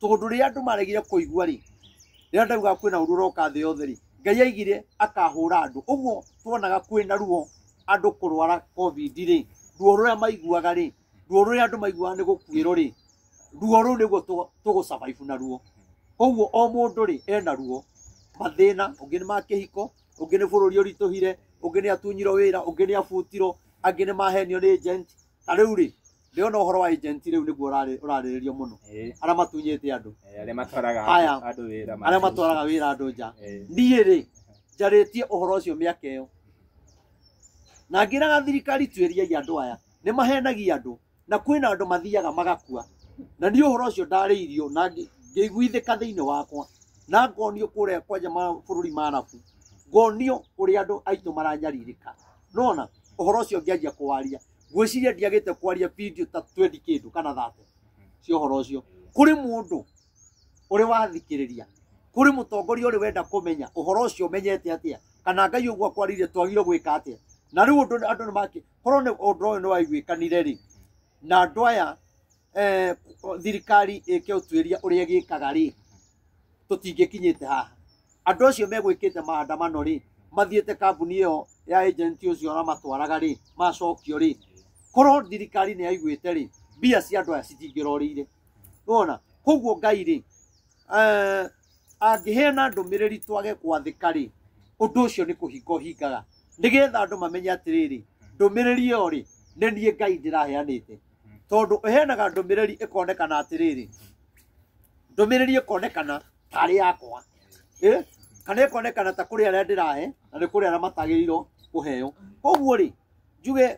tondũ rĩrĩa andũ maregire kũigua rĩ rĩrĩa ndauga kwĩna ũru ũroka thĩ yothe rĩ ngai aigire akahũra andũ ũguo twonaga kwĩna ruo andũ kũrwara covid rĩ ruo rũrĩa maiguaga rĩ ruo rũrĩa andũ maiguaga nĩ gũkuĩrwo rĩ ruo rũu nĩguo tũ- tũgũcabaibu na ruo koguo o mũndũ rĩ ena ruo mathĩna ũngĩ nĩ ma kĩhiko ũngĩ nĩ bũrũri ũritũhire ũngĩ nĩ atunyirwo wĩra ũngĩ nĩ abutirwo angĩ nĩ mahenio nĩ agent na rĩu rĩ ndĩona ũhoro wa agent rĩu nĩguo ũrarĩ- ũrarĩrĩrio mũno Eh, arĩa matunyĩte andũ eh, arĩa matwaraga Aya. andũ- andũ wĩra arĩa matwaraga wĩra andũ nja Eh, niĩ rĩ njarĩtie ũhoro ũcio mĩaka ĩyo na ngĩraga thirikari tuĩriai andũ aya nĩ mahenagia andũ na kwĩna andũ mathiaga magakua na niĩ ũhoro ũcio ndarĩirio na ngĩ- ngĩiguithĩka thĩinĩ wakwa na ngonio kũrĩa kwanja mabũrũri ma arabu ngonio ũrĩa andũ aitũ maranyarirĩka nona ũhoro ũcio ngĩanjia kũwaria ngwĩciria ndiagĩte kwaria video ta 20 kĩndũ kana 30 cia ũhoro ũcio kũrĩ mũndũ ũrĩ wathikĩrĩria kũrĩ mũtongoria ũrĩ wenda kũmenya ũhoro ũcio ũmenyete atĩa kana ngai ũguo akwarĩire twagire gwĩka atĩa na rĩu ũndũ andũ nĩ makĩ korwo nĩ ũndũ ũyũ nĩ waiguĩkanire rĩ na andũ aya eh, thirikari ĩke ũtuĩria ũrĩa ĩgĩkaga rĩ tũtingĩkinyĩte haha andũ acio megwĩkĩte maandamano rĩ mathiĩte kambuni ĩyo ya agent ũcio ũramatwaraga rĩ macokio rĩ korwo thirikari nĩ yaiguĩte rĩ mbia cia andũ aya citingĩrorĩire nona koguo ngai rĩ Eh, angĩheana ndũmĩrĩri twage kwathĩka-rĩ ũndũ ũcio nĩ kũhinga ũhingaga nĩgetha andũ mamenye atĩrĩrĩ ndũmĩrĩri ĩyo rĩ nĩ niĩ ngai ndĩraheanĩte tondũ ĩheanaga ndũmĩrĩri ĩkonekana atĩrĩrĩ ndũmĩrĩri ĩkonekana tarĩ yakwa Eh, kana ĩkonekana ta kũrĩ arĩa ndĩrahe na nĩ kũrĩ arĩa matagĩrĩirwo kũheo koguo rĩ njuge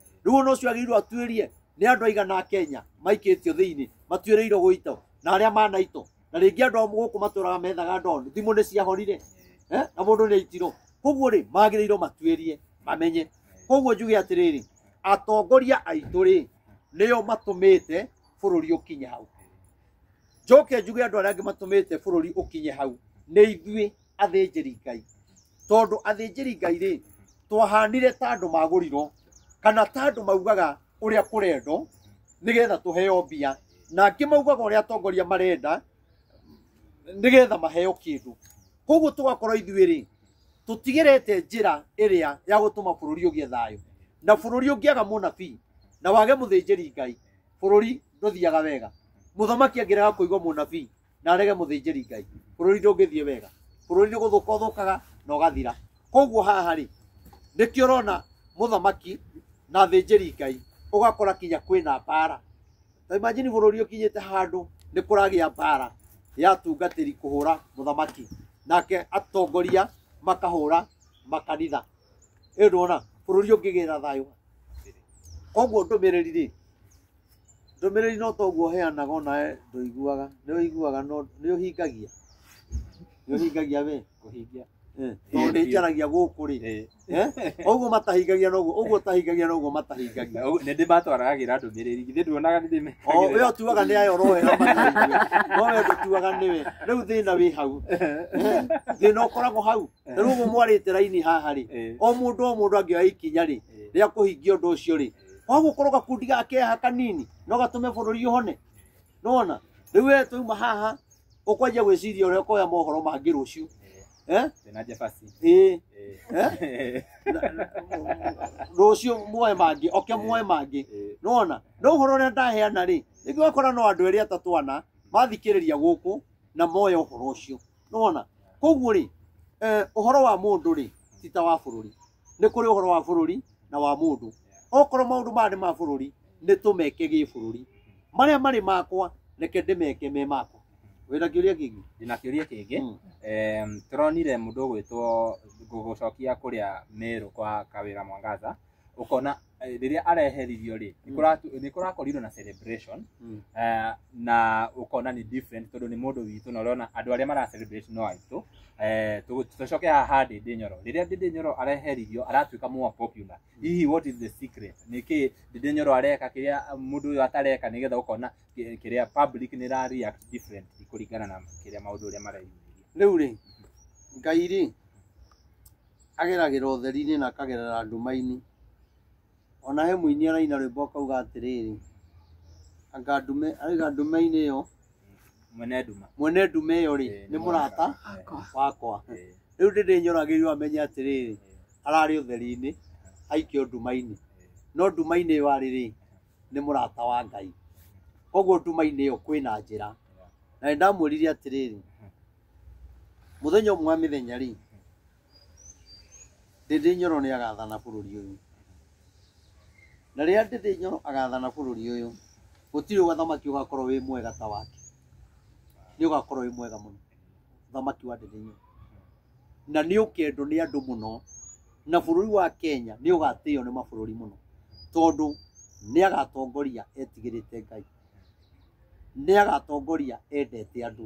rĩu ona ũcio agĩrĩirwo atuĩrie nĩ andũ aigana a kenya maikĩtio thĩinĩ matuĩrĩirwo gũitwo na arĩa manaitwo na rĩngĩ andũ a gũkũ matũraga methaga ndondu thimũ nĩ ciahorire eh, na mũndũ nĩ aitirwo koguo rĩ magĩrĩirwo matuĩrie mamenye koguo njuge atĩrĩrĩ atongoria aitũ rĩ nĩo matũmĩte bũrũri ũkinye hau njoke njuge andũ arĩa angĩ matũmĩte bũrũri ũkinye hau nĩ ithuĩ athĩnjĩri ngai tondũ athĩnjĩri ngai rĩ twahanire ta andũ magũrirwo kana ta andũ maugaga ũrĩa kũrendwo nĩgetha tũheo mbia na angĩ maugaga ũrĩa atongoria marenda nĩgetha maheo kĩndũ koguo tũgakorwo ithuĩ rĩ tũtigĩrĩte njĩra ĩrĩa ya gũtũma bũrũri ũgĩe thayũ na bũrũri ũngĩaga mũnabii na wage mũthĩnjĩri ngai bũrũri ndũthiaga wega mũthamaki angĩrega kũigua mũnabii na arege mũthĩnjĩri ngai bũrũri ndũngĩthiĩ wega bũrũri nĩ gũthũka ũthũkaga na ũgathira koguo haha rĩ nĩkĩo ũrona mũthamaki na thĩnjĩri ngai ũgakora kinya kwĩna mbara ta imagine bũrũri ũkinyĩte handũ nĩ kũragĩa mbara ya tungatĩri kũhũra mũthamaki nake atongoria makahũra makanitha ĩyo ndwona bũrũri ũngĩgĩra thayũ koguo ndũmĩrĩri rĩ Ndũmĩrĩri no ta ũguo ũheanaga onawe ndũiguaga. Nĩ ũiguaga no nĩ ũhingagia. Nĩ ũhingagia we? Kũhingia. Eh, Tondũ nĩ njaragia gũkũ rĩ. Eh? Ũguo matahingagia noguo, ũguo ũtahingagia noguo matahingagia. Nĩ ndĩ matwaragĩra ndũmĩrĩri. Githĩ nduonaga nĩ ndĩ O we ũtuaga nĩ ayo ũroera mataigue. No we ndũtuaga nĩ we. Rĩu thĩna wĩ hau. Eh? Thĩna ũkoragwo hau. Rĩu ũguo mwarĩte raini haha rĩ, Eh. o mũndũ o mũndũ angĩoya ikinya rĩ, Eh. rĩa kũhingia ũndũ ũcio rĩ, kwa gukorwo gakundi ga keha kanini no gatume bũrũri ũhone nona rĩu we twauma haha ũkwanjia gwĩciria ũrĩa ũkoya mohoro mangĩ rũciũ eh? Tena Jefasi. ĩĩ Eh? rũciũ muoe mangĩ oke muoe mangĩ Eh, nona no ũhoro ũrĩa ndaheana rĩ rĩngĩ wakora no andũ erĩ atatũ ana mathikĩrĩria gũkũ na moya ũhoro ũcio nona koguo rĩ eh, ũhoro wa mũndũ rĩ ti ta wa bũrũri nĩ kũrĩ ũhoro wa bũrũri na wa mũndũ okorwo maũndũ maya nĩ ma bũrũri nĩ tũmeke gĩ bũrũri marĩa marĩ makwa reke ndĩmeke me makwa wĩna kĩũria kĩngĩ ndĩna kĩũria kĩngĩ Mm. Em, tũronire mũndũ ũgwĩtwo gũgũcokia kũrĩa merũ kwa kawĩra mwangaza ũkona eh, rĩrĩa areheririo rĩ nĩ kũratu- nĩ kũrakorirwo na celebration Mm. eh, na ũkona nĩ different tondũ nĩ mũndũ witũ na ũrona andũ arĩa mara celebrate no aitũ Eh, tũ- tũcoke haha ndĩndĩ nyoro rĩrĩa ndĩndĩ nyoro areheririo aratuĩka more popular hihi what is the secret nĩkĩ ndĩndĩ nyoro areka kĩrĩa mũndũ ũyũ atareka nĩgetha ũkona kĩ- kĩrĩa public nĩ ra react different kũringana na kĩrĩa maũndũ ũrĩa mareyumĩria rĩu rĩ ngai rĩ Ageragĩra ũtheri-inĩ na akagerera nduma-inĩ. O na he mũini araina rwĩmbo akauga atĩrĩrĩ, anga ndume, arauga ndume-inĩ ĩyo, Mwene nduma. mwene ndume ĩyo rĩ, nĩ mũrata wakwa. Rĩu ndĩndĩnyoragĩrio amenye atĩrĩrĩ, ararĩ ũtheri-inĩ, aikio nduma-inĩ. No nduma-inĩ ĩyo arĩ rĩ, nĩ mũrata wa Ngai. Koguo nduma-inĩ ĩyo kwĩna njĩra. Na nĩ ndamwĩrire atĩrĩrĩ, Mũthenya ũmwe wa mĩthenya rĩ, Ndĩndĩ Nyoro nĩ agathana bũrũri ũyũ. Na rĩrĩa Ndĩndĩ Nyoro agathana bũrũri ũyũ, gũtirĩ ũthamaki ũgakorwo wĩ mwega ta wake. Nĩ ũgakorwo wĩ mwega mũno, ũthamaki wa Ndĩndĩ Nyoro. Na nĩ ũkendwo nĩ andũ mũno, na bũrũri wa Kenya nĩ ũgatĩo nĩ mabũrũri mũno, tondũ nĩ agatongoria etigĩrĩte Ngai, nĩ agatongoria endete andũ.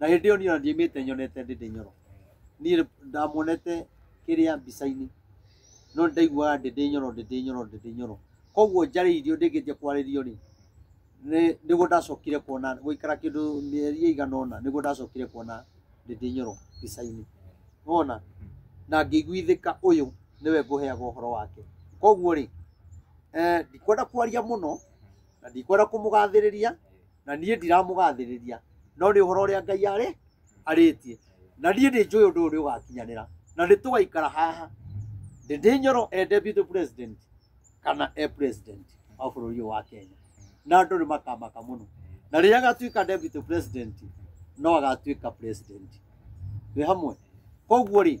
na hĩndĩ ĩyo niĩ ona ndiaimĩte nyonete ndĩ ndĩ nyoro niĩ ndamuonete kĩrĩa mbica-inĩ no nĩ ndaiguaga ndĩ ndĩ nyoro ndĩ ndĩ nyoro ndĩ ndĩ nyoro koguo njarĩirio ndĩngĩnjia kwarĩrio rĩ nĩ- nĩguo ndacokire kuona gũikara kĩndũ mĩeri ĩigana ũna nĩguo ndacokire kuona ndĩ ndĩ nyoro mbica-inĩ wona na ngĩiguithĩka ũyũ nĩwe ngũheaga ũhoro wake koguo rĩ eh, ndikwenda kwaria mũno na ndikwenda kũmũgathĩrĩria na niĩ ndiramũgathĩrĩria no nĩ ũhoro ũrĩa ngai arĩ arĩtie na niĩ nĩ njũĩ ũndũ ũyũ nĩ ũgakinyanĩra na nĩ tũgaikara haha ndĩndĩ nyoro e deputy president kana e president wa bũrũri ũyũ wa kenya na andũ nĩ makamaka mũno na rĩrĩa agatuĩka deputy president no agatuĩka president twĩ hamwe koguo rĩ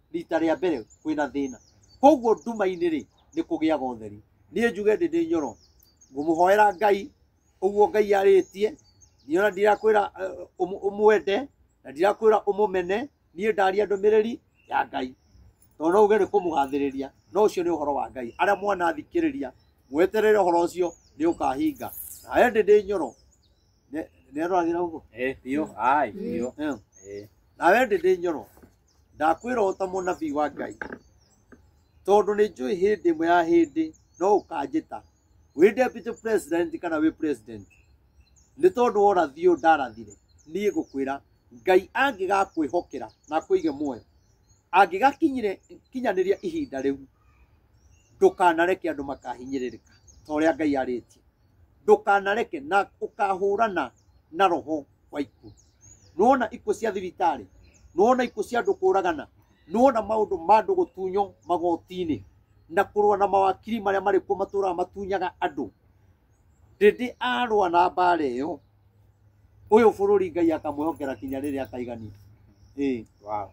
rita rĩa mbere kwĩna thĩna koguo nduma-inĩ rĩ nĩ kũgĩaga ũtheri niĩ njuge ndĩ ndĩ nyoro ngũmũhoera ngai ũguo ngai arĩtie niona ndirakwĩra eh, ũmũ- ũmwende na ndirakwĩra ũmũmene niĩ ndaria ndũmĩrĩri ya ngai tondũ no uge nĩ kũmũgathĩrĩria no ũcio nĩ ũhoro wa ngai arĩa mwanathikĩrĩria mweterere ũhoro ũcio nĩ ũkahinga nawe ndĩ ndĩ nyoro nĩ aroragĩra ũguo Eh, biũ. Ai, biũ. Eh. Eh. nawe ndĩ ndĩ nyoro ndakwĩra ũũ ta mũnabii wa ngai tondũ nĩ njũĩ hĩndĩ ĩmwe ya hĩndĩ no ũkanjĩta wĩ deputy president kana wĩ president nĩ tondũ worathi ũyũ ndarathire niĩ ngũkwĩra ngai angĩgakwĩhokera na akwĩige muoyo angĩgakinyire kinyanĩria ihinda rĩu ndũkanareke andũ makahinyĩrĩrĩka ta ũrĩa ngai arĩtie ndũkanareke na ũkahũrana na roho wa ikuũ nĩwona ikuũ cia thibitarĩ nĩwona ikuũ cia andũ kũragana nĩwona maũndũ ma andũ gũtunywo magoti-inĩ na kũrũa na mawakiri marĩa marĩ kuo matũraga matunyaga andũ ndĩndĩ arũa na mbara ĩyo ũyũ bũrũri ngai akamwĩhokera kinya rĩrĩa akaigania ĩĩ Wow.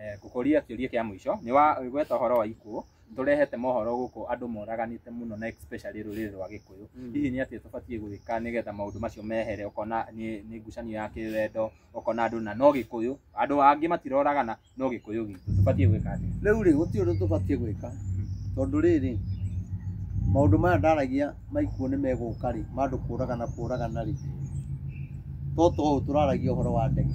Eh, ngũkũria kĩũria kĩa mũico nĩ wagweta ũhoro wa ikuũ tũrehete mohoro gũkũ andũ moraganĩte mũno na especially rũrĩrĩ rwa gĩkũyũ Mm. hihi nĩ atĩa tũbatiĩ gwĩka nĩgetha maũndũ macio mehere ũkona nĩ nĩ ngucanio ya kĩwendo ũkona andũ na no gĩkũyũ andũ angĩ matiroragana no gĩkũyũ gitũ tũbatiĩ gwĩka atĩa rĩu rĩ gũtirĩ ũndũ tũbatiĩ gwĩka tondũ rĩrĩ maũndũ maya ndaragia maikuo nĩ megũka rĩ ma andũ kũragana kũragana rĩ to to ũũ tũraragia ũhoro wa ndege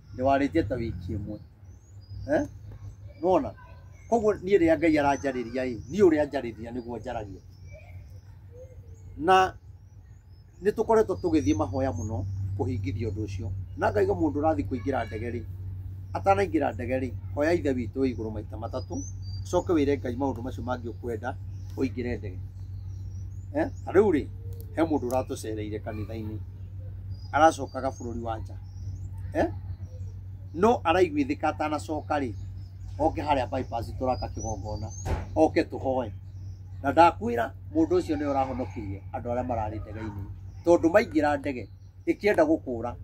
ndĩwarĩtie ta wiki ĩmwe eh? nona koguo niĩ rĩrĩa ngai aranjarĩria ĩ niĩ ũrĩa anjarĩria nĩguo njaragia na nĩ tũkoretwo tũgĩthiĩ mahoya mũno kũhingithia ũndũ ũcio na ngaiga mũndũ ũrathiĩ kũingĩra ndege rĩ atanaingĩra ndege rĩ hoya ithe witũ wĩ igũrũ maita matatũ coke wĩre ngai maũndũ macio mangĩ ũkwenda ũingĩre ndege Eh, ta rĩu rĩ he mũndũ ũratũcereire kanitha-inĩ aracokaga bũrũri wa nja eh? no araiguithĩka atanacoka rĩ oke harĩa bypass tũraka kĩgongona oke tũhoe na ndakwĩra mũndũ ũcio nĩ ũrahonokirie andũ arĩa mararĩ ndege-inĩ tondũ maingĩra ndege ĩkĩenda gũkũra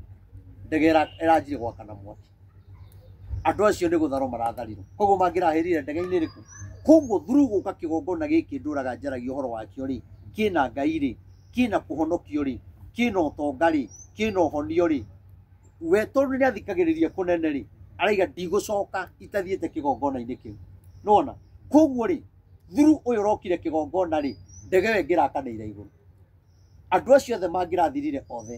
ndege ĩra- ĩranjire gwakana mwaki andũ acio nĩ gũtharwo maratharirwo koguo mangĩrahĩrire ndege-inĩ rĩkũ koguo thuru gũka kĩgongona gĩkĩ ndũraga njaragia ũhoro wakĩo rĩ kĩna ngai rĩ kĩna kũhonokio rĩ kĩna ũtonga rĩ kĩna ũhonio rĩ we tondũ nĩ athikagĩrĩria kũnene rĩ araiga ndigũcoka itathiĩte kĩgongona-inĩ kĩu nona koguo rĩ thuru ũyũ ũrokire kĩgongona rĩ ndege ĩyo ĩngĩrakanĩire igũrũ andũ acio othe mangĩrathirire othe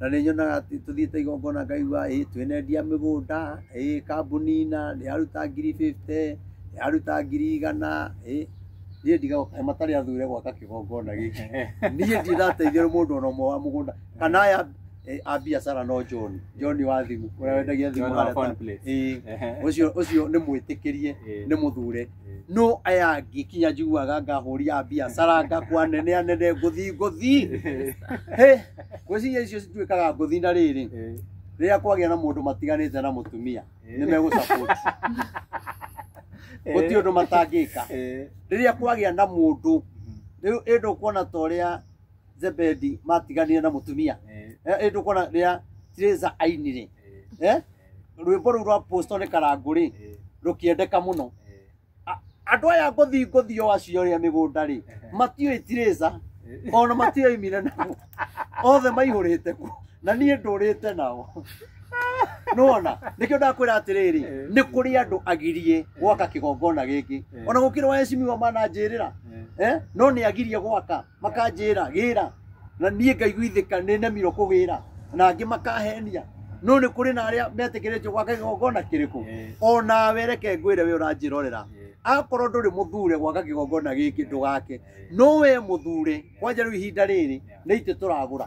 na nĩ nyonaga atĩ tũthiĩte igongona ngaigua ĩ twenendia mĩgũnda ĩ kambuni na nĩ yaruta ngiri 50 nĩ yaruta ngiri igana ĩ niĩ ndigoka matarĩ athure gwaka kĩgongona gĩkĩ niĩ ndirateithia mũndũ ona ũmwe wa mũgũnda kana aya eh, a biacara no John John wa thimũ ũrĩa wendagia thimũ John wa harĩa ta- phone plate. ĩ, Ehe. ũcio ũcio nĩ mwĩtĩkĩrie Ĩ. nĩ mũthure no aya ngikinya njiguaga ngahũria biacara ngakwa nene anene ngũthi ngũthi Hĩ, ngwĩciria icio cituĩkaga ngũthi na rĩrĩ rĩrĩa kwagĩa na mũndũ matiganĩte na mũtumia nĩ megũsapoti gũtirĩ ũndũ matangĩka rĩrĩa kwagĩa na mũndũ rĩu ĩndũ kuona ta ũrĩa zebedi matiganire na mũtumia ĩndũ kuona rĩrĩa tirĩza ainire eh? rwĩmbo rũu rwa posto nĩ karangũ rĩ Eh, rũkĩendeka mũno eh, A- andũ aya ngũthi ngũthi o acio rĩa mĩgũnda rĩ matiũĩ tirĩca eh. ona matiũĩ mire nao othe maihũrĩte ku na niĩ ndũrĩte nao nona nĩkĩo ndakwĩra atĩrĩrĩ Eh. nĩ kũrĩ andũ agirie gwaka kĩgongona gĩkĩ Eh. ona gũkĩrĩ wa ecimiwa mananjĩrĩra Eh, eh? no nĩ agirie gwaka makanjĩra gĩra na niĩ ngaiguithĩka nĩ nemirwo kũgĩra na angĩ makahenia no nĩ kũrĩ na arĩa metĩkĩrĩtio gwaka kĩgongona kĩrĩkũ Eh. o nawe reke ngwĩre we ũranjĩrorera Eh. akorwo ndũrĩ mũthure gwaka kĩgongona gĩkĩ ndũgake no we mũthure kwanja rĩu ihinda rĩrĩ nĩ itĩ tũragũra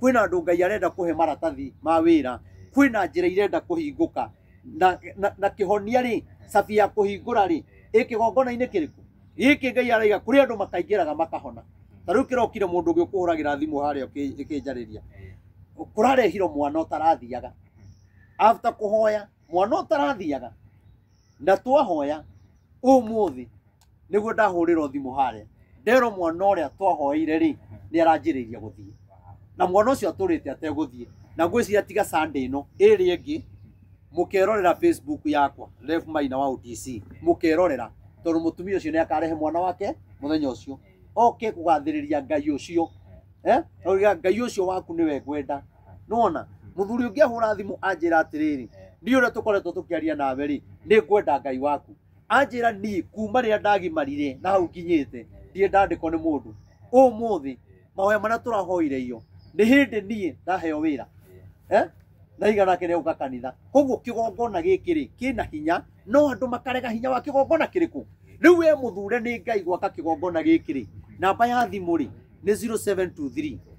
kwĩna andũ ngai arenda kũhe maratathi ma wĩra kwĩna njĩra irenda kũhingũka na, na, na kĩhonia rĩ cabi ya kũhingũra rĩ ĩ kĩgongona-inĩ kĩrĩkũ gĩkĩ ngai araiga kũrĩ andũ makaingĩraga makahona ta rĩu kĩrokire mũndũ ũngĩ ũkũhũragĩra thimũ harĩa ũkĩ- ĩkĩnjarĩria kũrarehirwo mwana ũtarathiaga after kũhoya mwana ũtarathiaga na twahoya ũmũthĩ nĩguo ndahũrĩrwo thimũ harĩa nderwo mwana ũrĩa twahoeire rĩ nĩ aranjĩrĩirie gũthiĩ na mwana ũcio atũrĩte ategũthiĩ na ngwĩciria tiga sande ĩno ĩrĩ ĩngĩ mũkerorera facebook yakwa ref maina wa utc mũkerorera tondũ mũtumia ũcio nĩ akarehe mwana wake mũthenya ũcio oke kũgathĩrĩria ngai ũcio eh? Oiga, ngai ũcio waku nĩwe ngwenda nona muthuri ungi ahura thimu anjira atiriri ni uria tukoretwo tukiaria nawe ri ni ngwenda ngai waku anjira ni kuma riria ndagimarire na hau nginyite ndie ndandikwo ni mundu umuthi mahoya maria turahoire iyo ni hindi nie ndaheo wira eh? na igana ake nĩgũka kanitha koguo kĩgongona gĩkĩ rĩ kĩna hinya no andũ makarega hinya wa kĩgongona kĩrĩkũ rĩu we mũthure nĩ ngai gwaka kĩgongona gĩkĩ rĩ namba ya thimũ rĩ nĩ 0723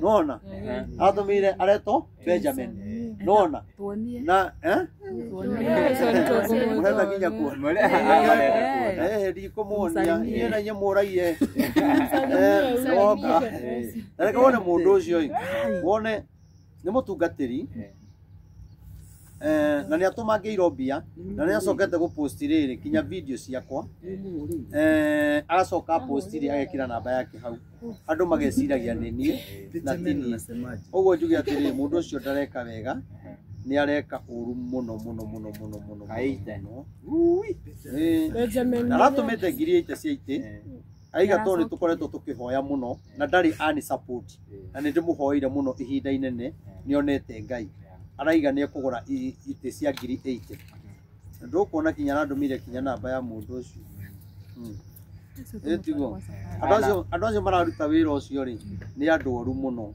nona atũmĩire aretwo benjamin nona Tuonie. na eh? mũrenda nginya kuona Eh, ndikũmuonia niĩ na inyuĩ mũraire Eh, oka. Na reke wone mũndũ ũcio ĩ wone nĩ mũtungatĩri Eh. eh, na nĩ atũmangĩirwo mbia na nĩ acokete gũposti rĩrĩ kinya video ciakwa eh, aracoka posti rĩ agekĩra namba yake hau andũ mageciragia nĩ niĩ na ti niĩ Nasemaje? ũguo njuge atĩrĩ mũndũ ũcio ndareka wega nĩ areka ũru mũno mũno mũno mũno mũno Aita. mũno Eh, Benjamin. aratũmĩte ngiri ĩte cia itĩ Eh. aiga tondũ nĩ tũkoretwo tũkĩhoya mũno na ndarĩ ani support na nĩ ndĩmũhoire mũno ihinda inene nĩ onete ngai araiga nĩ ekũgũra i- itĩ cia ngiri 80 na ndũkuona kinya arandũmĩire kinya namba ya mũndũ ũcio Mm. Ĩĩ tiguo? Andũ acio- andũ acio mararuta wĩra ũcio rĩ nĩ andũ oru mũno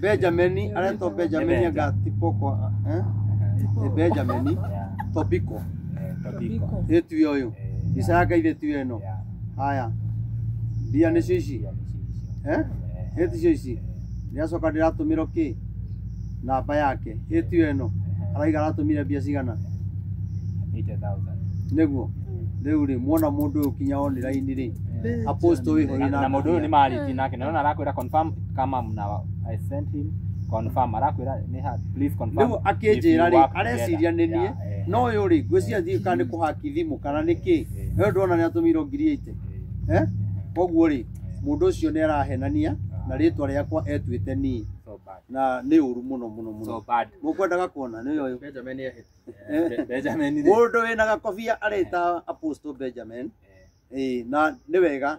Benjamini aretwo Benjamini anga Tipoko eh? Nĩ Benjamini Yeah. Tobiko Eh, Tobiko. ĩ tiwe ũyũ Eh, mbica yake ithe tiwe ĩno yeah. haya mbia nĩcio ici Yeah, nĩ ciicio. eh? Eh, ĩ ticio ici ndĩracoka ndĩratũmĩrwo kĩ namba yake ĩ tiwe ĩno araiga aratũmire mbia cigana 80,000. nĩguo rĩu rĩ muona mũndũ ũyũ kinya oniraini rĩ aposto wĩho Na- na mũndũ ũyũ nĩ marĩtie nake na nona arakwĩra confirm kama mna I sent him confirm arakwira ni ha please confirm Rĩu akĩnjĩra if you rĩ, work areciria nĩ together. niĩ. Yeah, eh, no ũyũ rĩ ngwĩciria thiĩ kana nĩ kũhaki thimũ kana nĩ kĩ eh, we ndwona nĩ atũmĩirwo ngiri ite eh, eh, koguo rĩ mũndũ ũcio nĩ arahenania na rĩtwa rĩakwa etuĩte niĩ so bad na nĩ ũru mũno mũno mũno so bad mũkwendaga kuona nĩ ũyũ Benjamin nĩ Be- Benjamin ni mũndũ wĩna gakobia arĩta apostle benjamin eh, ĩĩ na nĩ wega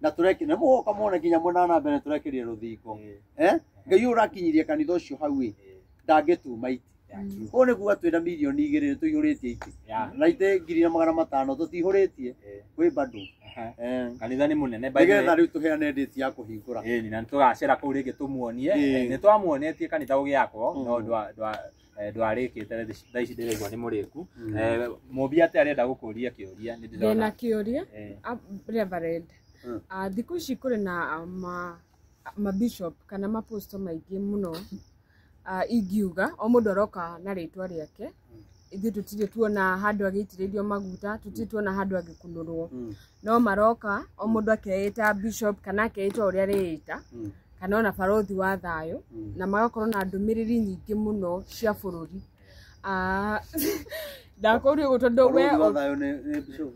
na tũreke na mũgoka muone nginya mwena wa na mbere tũrekerie rũthingo eh ngai ũyũ ũrakinyirie kanitha ũcio hau ĩ ndangĩtuma iti ũũ nĩ kuga twĩna milioni igĩrĩ tũihũrĩtie iti na itĩ ngiri na magana matano tũtihũrĩtie kwĩ bado Eh. kanitha nĩ mũnene by the way. nĩgetha rĩu tũheane ndĩti ya kũhingũra Ĩĩ, na nĩ tũgacera kũu rĩngĩ tũmuonie Ĩĩ. nĩ twamuonetie kanitha ũgĩakwo no ndwa- ndwa- eh, ndwarĩkĩte rĩ, thaa ici ndĩraigua nĩ mũrĩku Mm. Eh, mũmbi atĩ arenda gũkũria kĩũria nĩ ndĩna ndĩrona kĩũria Eh, a- reverend Mm. Ah, thikũ ici kũrĩ na ah, ma mabishop kana maposto maingĩ mũno Ah, ingiuga o mũndũ aroka na rĩtwa rĩake ithuĩ tũtirĩ tuona handũ agĩitĩrĩrio maguta tũtirĩ tuona handũ agĩkunũrwo Mm. no maroka o mũndũ akeĩta bishop kana akeĩta ũrĩa arĩĩta Mm. kana ona barothi wa thayũ na magakorwo na ndũmĩrĩri nyingĩ mũno cia bũrũri Ah, ndakũria ũguo tondũ we Bũrũri wa thayũ nĩ- nĩ bishop.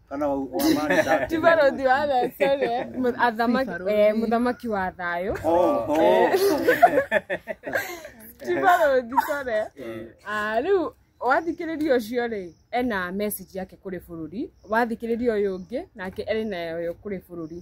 Kana wa- wa mani ndake. ti barothi wa thayũ sorry, eh, mu- athamaki- eh, mũthamaki wa thayũ Oh, oh. ti barothi sorry. Ah, rĩu wathikĩrĩria ũcio rĩ ena message yake kũrĩ bũrũri wathikĩrĩria ũyũ ũngĩ nake ena nayo kũrĩ bũrũri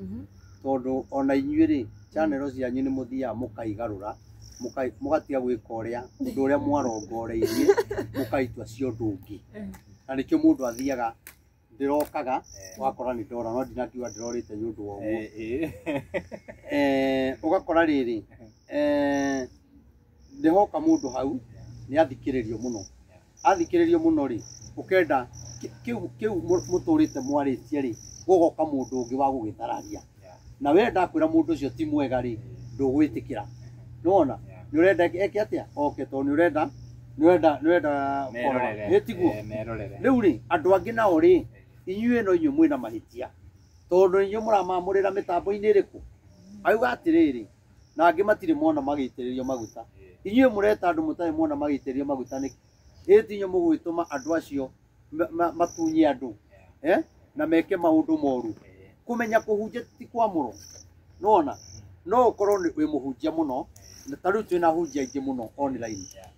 Mhm. tondũ ona inyuĩ rĩ chanero cianyu nĩ mũthiaga mũkaigarũra mũkai- mũgatiga gwĩka ũrĩa ũndũ ũrĩa mwarongoreirie mũkaitua cia ũndũ ũngĩ na nĩkĩo mũndũ athiaga ndĩrokaga wakora nĩ ndora no ndinakiuga ndĩrorĩte nĩ ũndũ wa ũguo Eh, ũgakora rĩrĩ eh, nĩhoka mũndũ hau nĩ athikĩrĩrio mũno athikĩrĩrio mũno rĩ ũkenda kĩ- kĩu kĩu mũ- mũtũrĩte mwarĩtie rĩ gũgoka mũndũ ũngĩ wa gũgĩthararia na we ndakwĩra mũndũ ũcio ti mwega rĩ ndũgwĩtĩkĩra nĩwona nĩ ũrenda eke eke atĩa oke tondũ nĩ ũrenda nĩ ũrenda nĩ ũrenda merorere nĩ tiguo eh, merorere rĩu rĩ andũ angĩ nao rĩ inyuĩ no inyuĩ mwĩna mahĩtia tondũ inyuĩ mũramamũrĩra mĩtambo-inĩ ĩrĩkũ auga atĩrĩrĩ na angĩ matirĩ mona magĩitĩrĩrio maguta inyuĩ mũreta andũ mũtarĩ mona magĩitĩrĩrio maguta nĩkĩ ĩ ti inyuĩ mũgwĩtũma andũ acio ma- ma- matunye andũ eh? na meke maũndũ moru kũmenya kũhunjia ti kwamũrwo nona no ũkorwo nĩ- wĩ mũhunjia mũno na ta rĩu twĩna ahunjia aingĩ mũno online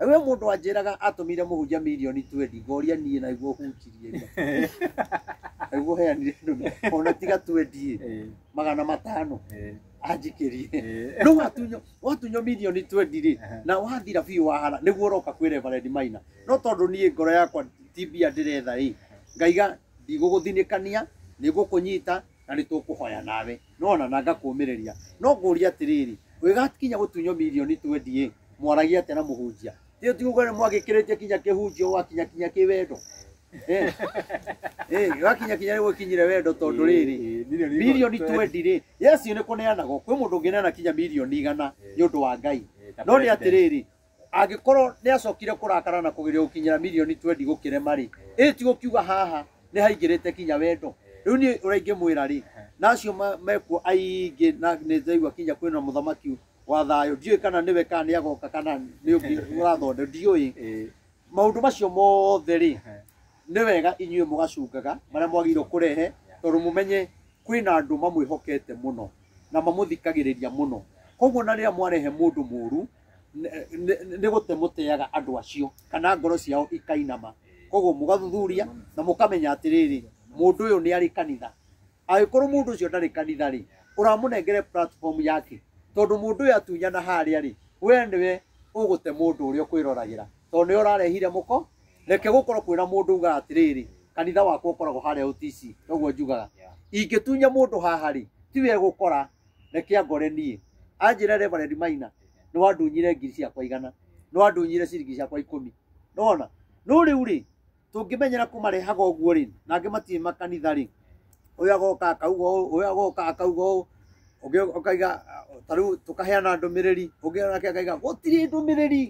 we mundu anjiraga atumire muhunjia milioni 20 ngoria nie na iguo hunjirie ria iguo heanire ndume ona tiga 20 Eh, magana matano eh, anjikirie eh. no watunyo watunyo milioni 20 ri Aha. na wathira biũ wahara nĩguo ũroka kwĩ reverend maina no tondũ niĩ ngoro yakwa ti mbia ndĩretha ĩ ngaiga ndigũgũthinĩkania nĩngũkũnyita na nĩ tũkũhoya nawe nona na ngakũmĩrĩria no ngũria atĩrĩrĩ ũgĩgakinya gũtunywo mirioni twendi mwaragia atĩa na mũhunjia rĩu ti uga mwagĩkĩrĩtie kinya kĩhunjio wakinya kinya kĩwendo Eh, eh, wakinya kinya nĩ gũkinyire wendo tondũ rĩrĩ mirioni twendi rĩ yesu nĩ kũneanagwo kwĩ mũndũ ũngĩneana kinya mirioni igana nĩ ũndũ wa ngai no nĩ atĩrĩrĩ Angĩkorwo nĩ acokire kũrakara na kũgeria gũkinyĩra mirioni twendi gũkĩrema rĩ, ĩ ti gũkiuga haha nĩ haingĩrĩte kinya wendo? Rĩu niĩ ũrĩa ingĩmwĩra rĩ, na acio ma- mekuo aingĩ na nĩ ndaigua kinya kwĩna mũthamaki wa thayũ, ndiũĩ kana nĩwe kana nĩ agoka kana nĩ ũngĩ ũrathonde, ndiũĩ. Ĩĩ. Maũndũ macio mothe rĩ, nĩ wega inyuĩ mũgacungaga marĩa mwagĩrĩirwo kũrehe, tondũ mũmenye kwĩna andũ mamwĩhokete mũno na mamũthikagĩrĩria mũno. Koguo na rĩrĩa mwarehe mũndũ mũũru, nĩ- nĩ- nĩ gũte mũteaga andũ acio kana ngoro ciao ikainama koguo mũgathuthuria na mũkamenya atĩrĩrĩ mũndũ ũyũ nĩ arĩ kanitha angĩkorwo mũndũ ũcio ndarĩ kanitha rĩ ũramũnengere platform yake tondũ mũndũ ũyũ atunyana harĩa rĩ we nĩwe ũgũte mũndũ ũrĩa ũkwĩroragĩra tondũ nĩwe ũrarehire mũko reke gũkorwo kwĩna mũndũ ugaga atĩrĩrĩ kanitha wakwa ũkoragwo harĩa ũtici noguo njugaga ingĩtunya mũndũ haha rĩ tiwe gũkora reke angore niĩ anjĩre reverend maina nĩ wandunyire ngiri ciakwa igana nĩ wandunyire ciringi ciakwa ikũmi nona no rĩu rĩ tũngĩmenyera kũmarehaga ũguo rĩ na angĩ matirĩ makanitha rĩ ũyũ agoka akauga ũũ ũyũ agoka akauga ũũ ũngĩ ũkaiga ta rĩu tũkaheana ndũmĩrĩri ũngĩ nake akaiga gũtirĩ ndũmĩrĩri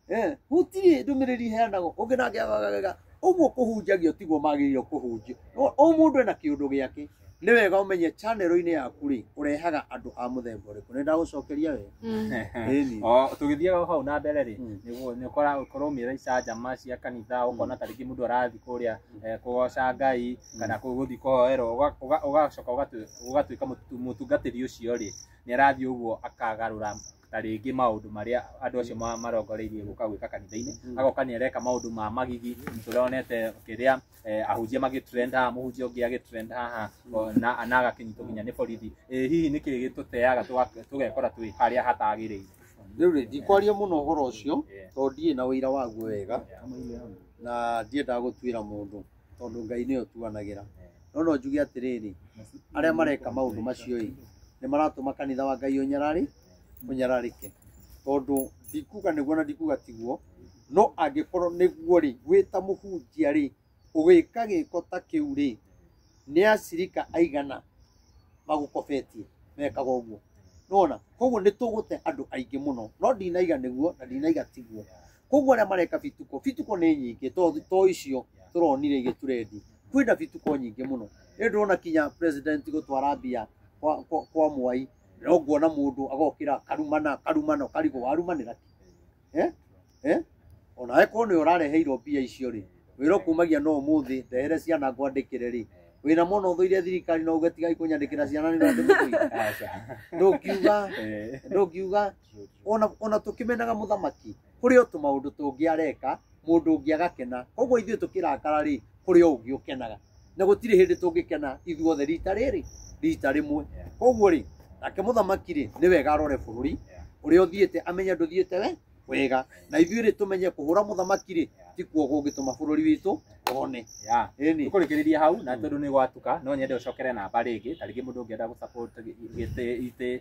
Eh, gũtirĩ ndũmĩrĩri iheanagwo ũngĩ nake agagega ũguo kũhunjagio tiguo magĩrĩirwo kũhunjio No, o mũndũ ena kĩũndũ gĩake nĩ wega ũmenye chanero-inĩ yaku rĩ ũrehaga andũ a mũthemba ũrĩkũ nĩ ndagũcokeria we Mm. Ĩni. O, tũgĩthiaga hau na mbere rĩ Mm. nĩguo nĩ ũkora ũkorwo mĩra icanjama cia kanitha ũkona ta rĩngĩ mũndũ arathiĩ kũrĩa eh, kũgoca ngai kana kũ- gũthiĩ kũhoerwo ũga- ũga- ũgacoka ũgatu- ũgatuĩka mũtu- mũtungatĩri ũcio rĩ nĩ arathiĩ ũguo akagarũra na rĩngĩ maũndũ marĩa andũ acio ma- marongoreirie gũka gwĩka kanitha-inĩ Mm. agoka nĩ areka maũndũ ma magigi tũronete kĩrĩa eh, ahunjia magĩtrend haha mũhunjia ũngĩ agĩtrend haha o, na na agakĩnyitwo nginya nĩ borithi Eh, hihi nĩ kĩĩ gĩtũteaga tũga- tũgekora twĩ harĩa hatagĩrĩire rĩu rĩ ndikwaria mũno ũhoro ũcio Yeah. tondũ ndiĩ na ũira waguo wega na ndiendaga gũtuĩra mũndũ tondũ Ngai nĩwe ũtuanagĩra. No no njuge atĩrĩrĩ, arĩa mareka maũndũ macio-ĩ, nĩ maratũma kanitha wa Ngai ũnyarari, ũnyararĩke. Tondũ ndikuga nĩguo na ndikuga tiguo, no angĩkorwo nĩguo-rĩ, wĩ ta mũhunjia-rĩ, ũgĩka gĩko ta kĩu-rĩ, nĩ acirika aigana magũkobetie mekaga ũguo? Nĩwona? Kuoguo nĩ tũgũte andũ aingĩ mũno. No ndinaiga nĩguo na ndinaiga tiguo. koguo arĩa mareka bituko bituko nĩ nyingĩ to to icio tũronire igĩturendi kwĩna bituko nyingĩ mũno rĩu ndĩrona kinya president gũtwara mbia kwa, kwa, kwa mwai no nguona mũndũ agokĩra karumana karumana karigwo warumanĩra kĩ? eh? eh? ona akorwo nĩ ũrareheirwo mbia icio rĩ wĩra ũkumagia no ũmũthĩ ndehere ciana ngwandĩkĩre rĩ wĩna mwana ũthũire thirikari no uge tigai kũnyandĩkĩra ciana nĩ ũrandĩmũthũire ndũngiuga ndũngiuga ona ona tukimenaga muthamaki kuri o tumaundu tungi areka mundu ungi agakena koguo ithuĩ tukirakara ri kuri o ungi ukenaga na gutiri hindi tungikena ithuothe rita riri rita rimwe koguo ri nake muthamaki ri ni wega arore bururi uria uthiite amenye nduthiite we wega na ithuĩ ri tumenye kuhura muthamaki ri ti kuo gungituma bururi witũ one Yeah. Ĩni. Tũkũrĩkĩrĩria hau na tondũ nĩ gwatuka no nyende ũcokere namba rĩngĩ ta rĩngĩ mũndũ ũngĩenda gũsupport gĩtĩ itĩ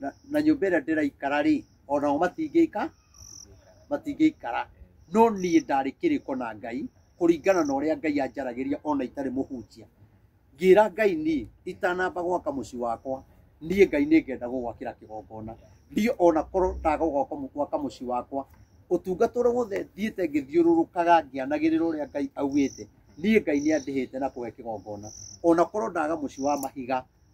na- na nyũmba ĩrĩa ndĩraikara rĩ o nao matingĩika matingĩikara no niĩ ndarĩ kĩrĩko na ngai kũringana na ũrĩa ngai anjaragĩria ona itarĩ mũhunjia ngĩra ngai niĩ itanamba gwaka mũciĩ wakwa niĩ ngai nĩ ngenda gũgwakĩra kĩgongona ndiĩ ona korwo ndaga gwaka mũ- gwaka mũciĩ wakwa ũtungata ũrĩa wothe thiĩte ngĩthiũrũrũkaga ngĩanagĩrĩra ũrĩa ngai augĩte niĩ ngai nĩ andĩhĩte na kũhe kĩgongona ona korwo ndaga mũciĩ wa mahiga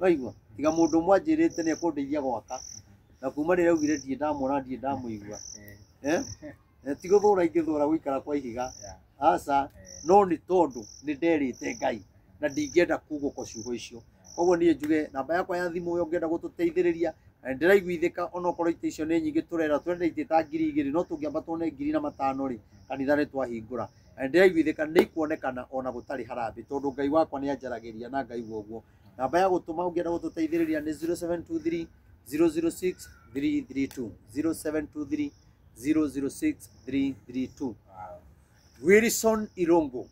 waigua tiga mũndũ ũmwe anjĩrĩte nĩ ekũndeithia gwaka na kuma rĩrĩa augire ndirĩ ndamuona ndirĩ ndamũigua Eh? Eh, ti gũthũra ingĩthũra gũikara kwa ihiga aca no nĩ tondũ nĩ nderĩte ngai na ndingĩenda kugũko ciugo icio koguo niĩ njuge namba yakwa ya thimũ ũyũ ũngĩenda gũtũteithĩrĩria na nĩ ndĩraiguithĩka onokorwo ite icio nĩ nyingĩ tũrera twendetie ta ngiri igĩrĩ no tũngĩamba tuone ngiri na matano rĩ kanitha nĩ twahingũra na nĩ ndĩraiguithĩka nĩ ikuonekana ona gũtarĩ harambĩ tondũ ngai wakwa nĩ anjaragĩria na ngaigua ũguo namba ya gũtũma ũngĩenda gũtũteithĩrĩria nĩ 0723 006 332 0723 006 332 Wilson Irongo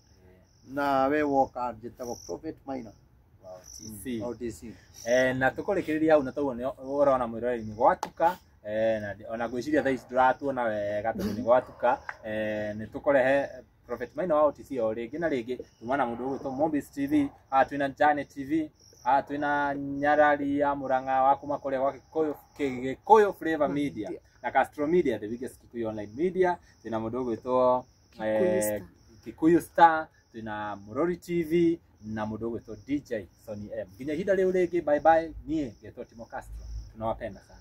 na we woka njĩtagwo Prophet Maina Wow, TC. au DC Eh, na tũkũrĩkĩrĩria hau na tauo nĩ ũrona mwĩroreri-inĩ gwatuka Eh, na ndi- ona ngwĩciria thaa ici ndũratuona wega tondũ nĩ gwatuka Eh, nĩ tũkũrehe prophet maina wa otc o rĩngĩ na rĩngĩ tuma na mũndũ ũgwĩtwo mombis tv haha twĩna jane tv haha twĩna nyarari ya mũrang'a wa kuma kũrĩa gwa gĩkũyũ kĩ- gĩkũyũ flavor media na castro media the biggest kikuyu online media twĩna mũndũ ũgwĩtwo Kikuyu Star. kikuyu star twĩna murori tv na mũndũ ũgwĩtwo dj sony m nginya ihinda rĩu rĩngĩ bye bye niĩ ngetwo timo castro tunawapenda sana